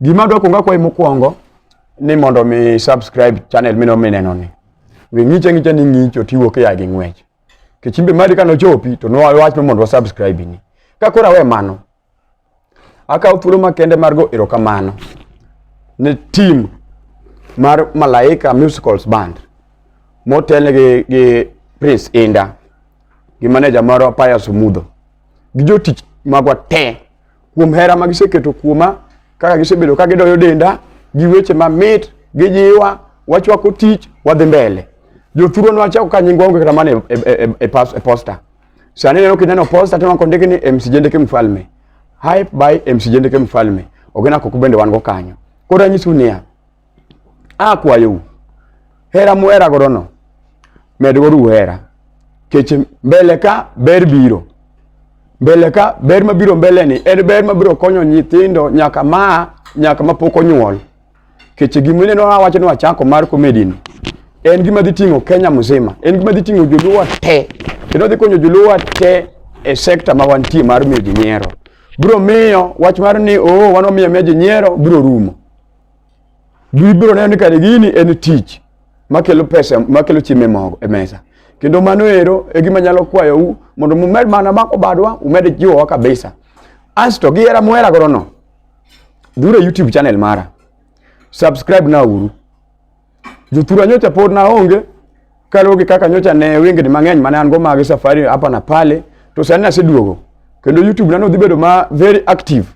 Gima dwa kwongo akwayi mokwongo ni mondo mi subscribe channel mino mineno ni. We ng'iche ng'iche ni ng'icho tiwo ke ya gi ng'wech. Kichimbe mari kano chopi to no wach mondo wa subscribe ni. Ka kora we mano. Akaw thuolo makende mar go erokamano ne team mar Malaika Musicals Band motelne gi, gi Prince Inda gi maneja moro Pius Mudho gi jotich magwa te kuom hera ma giseketo kuoma kaka gisebedo ka gidoyo denda gi weche mamit gijiwa wachwako tich wadhi mbele jothuro nwachako ka nyingwa onge kata mana e, e, e, e, e posta sani neno kineno posta to nako ndiki ni MC Jendeke Mfalme hype by MC Jendeke Mfalme ogena koko bende wan go kanyo koro anyisuni ya akwayou hera muheragodono medgoru uhera kech mbele ka ber biro mbele ka ber mabiro mbeleni en ber mabiro konyo nyithindo nyaka ma nyaka mapok onyuol kech gimineno awacho ni wachako mar komedini en gima dhi ting'o kenya mzima en gima dhi ting'o joluwa te kendo dhi konyo joluwa te e sekta ma wantie mar miyo ji nyiero biro miyo wach mar ni oo oh, wan wamiyo miyo ji nyiero biro rumo Gibiro neno ni kare gini en tich makelo pesa makelo chiemo e mogo e mesa. Kendo mano ero e gima nyalo kwayou mondo mumed mana mako badwa umed jiwowa kabisa. Asto gihera muhera godo no. Dhura YouTube channel mara. Subscribe na uru. Jothura nyocha pod na onge kaluwore kaka nyocha ne wengni mang'eny mane an go mag safari hapa na pale to sani naseduogo kendo YouTube na nodhi bedo ma very active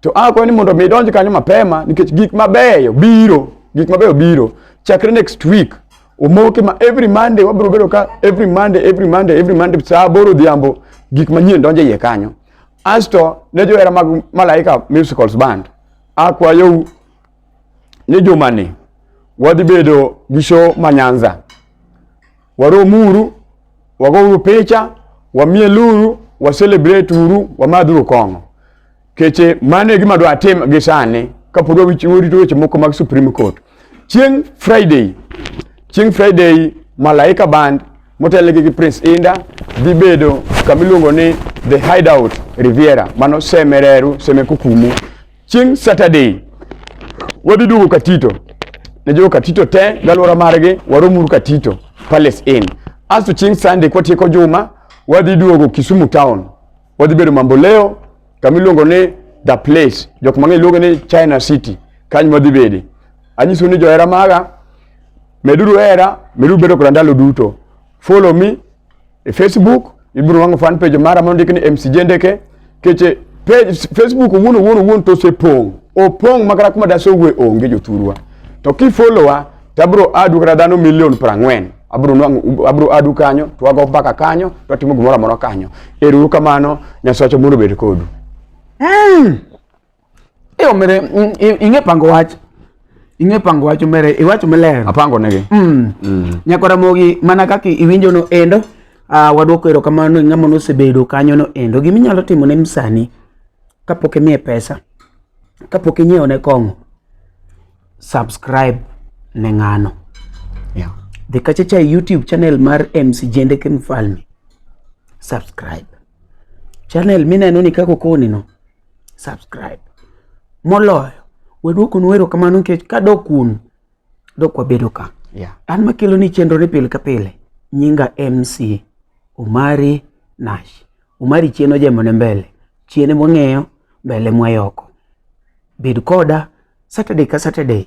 To a kwa ni mondo mi donj kanyo mapema nikech gik mabeyo biro, gik mabeyo biro. Chakre next week omoke ma every Monday wabiro bedo ka every Monday every Monday every Monday saa aboro odhiambo gik manyien donjo iye kanyo. Asto ne johera mag Malaika Musicals Band akwayou ni jumani wadhi bedo gi show ma Nyanza Waromuru, wagouru picha, wamieluru, wa celebrate uru, wamadhuru kong'o. Keche mano e gima dwa tim gi sani kapod warito weche moko mag Supreme Court. Chieng' Friday, chieng' Friday Malaika Band motelnegi gi Prince Inda dhi bedo kama iluongo ni The Hideout Riviera, mano Semereru, Semekukumu, chieng' Saturday wadhi duogo Katito ne jo Katito te galwora margi waromuru Katito Palace Inn. Asto chieng' Sunday kwatieko juma wadhi duogo Kisumu town, wadhi bedo Mamboleo kama iluongo ni the place, jok mang'eny luonge ni China City, kanyo wadhi bede. Anyiso ni johera maga, meduru hera, meduru bedo koda ndalo duto. Follow me e facebook ibiro wang'o fan page mara ma ndik ni mcj ndeke keche page facebook wuon wuon wuon to osepong' opong' makata kuma dase owuoe onge jothurwa to kifolowa to abiro adu kata dhano milion prang'wen abiro nwang'o abiro adu kanyo to wago mbaka kanyo to watimo gimoro amora kanyo ero uru kamano nyasacha mondo obed kodu mm. e omere mm, ing'e pango wach ing'e pango wach omere iwacho maler apango negi mm. mm. nyakora mogi mana kaka iwinjo no endo uh, ah, wadwoko ero kamano e ng'ama nosebedo kanyo no endo gima inyalo timo ne msani kapok imiye pesa kapok inyiewo ne kong'o subscribe ne ng'ano yeah. dhi kachacha e youtube channel mar mc jendeke mfalme subscribe channel mineno ni kako koni no subscribe moloyo waduoko nu erokamano nikech ka dok kuno dok wabedo ka yeah. an makelo ni chenro ni pile ka pile nyinga mc omari nash omari chien ojemone mbele chien mwang'eyo mbele mwayoko bed koda saturday ka saturday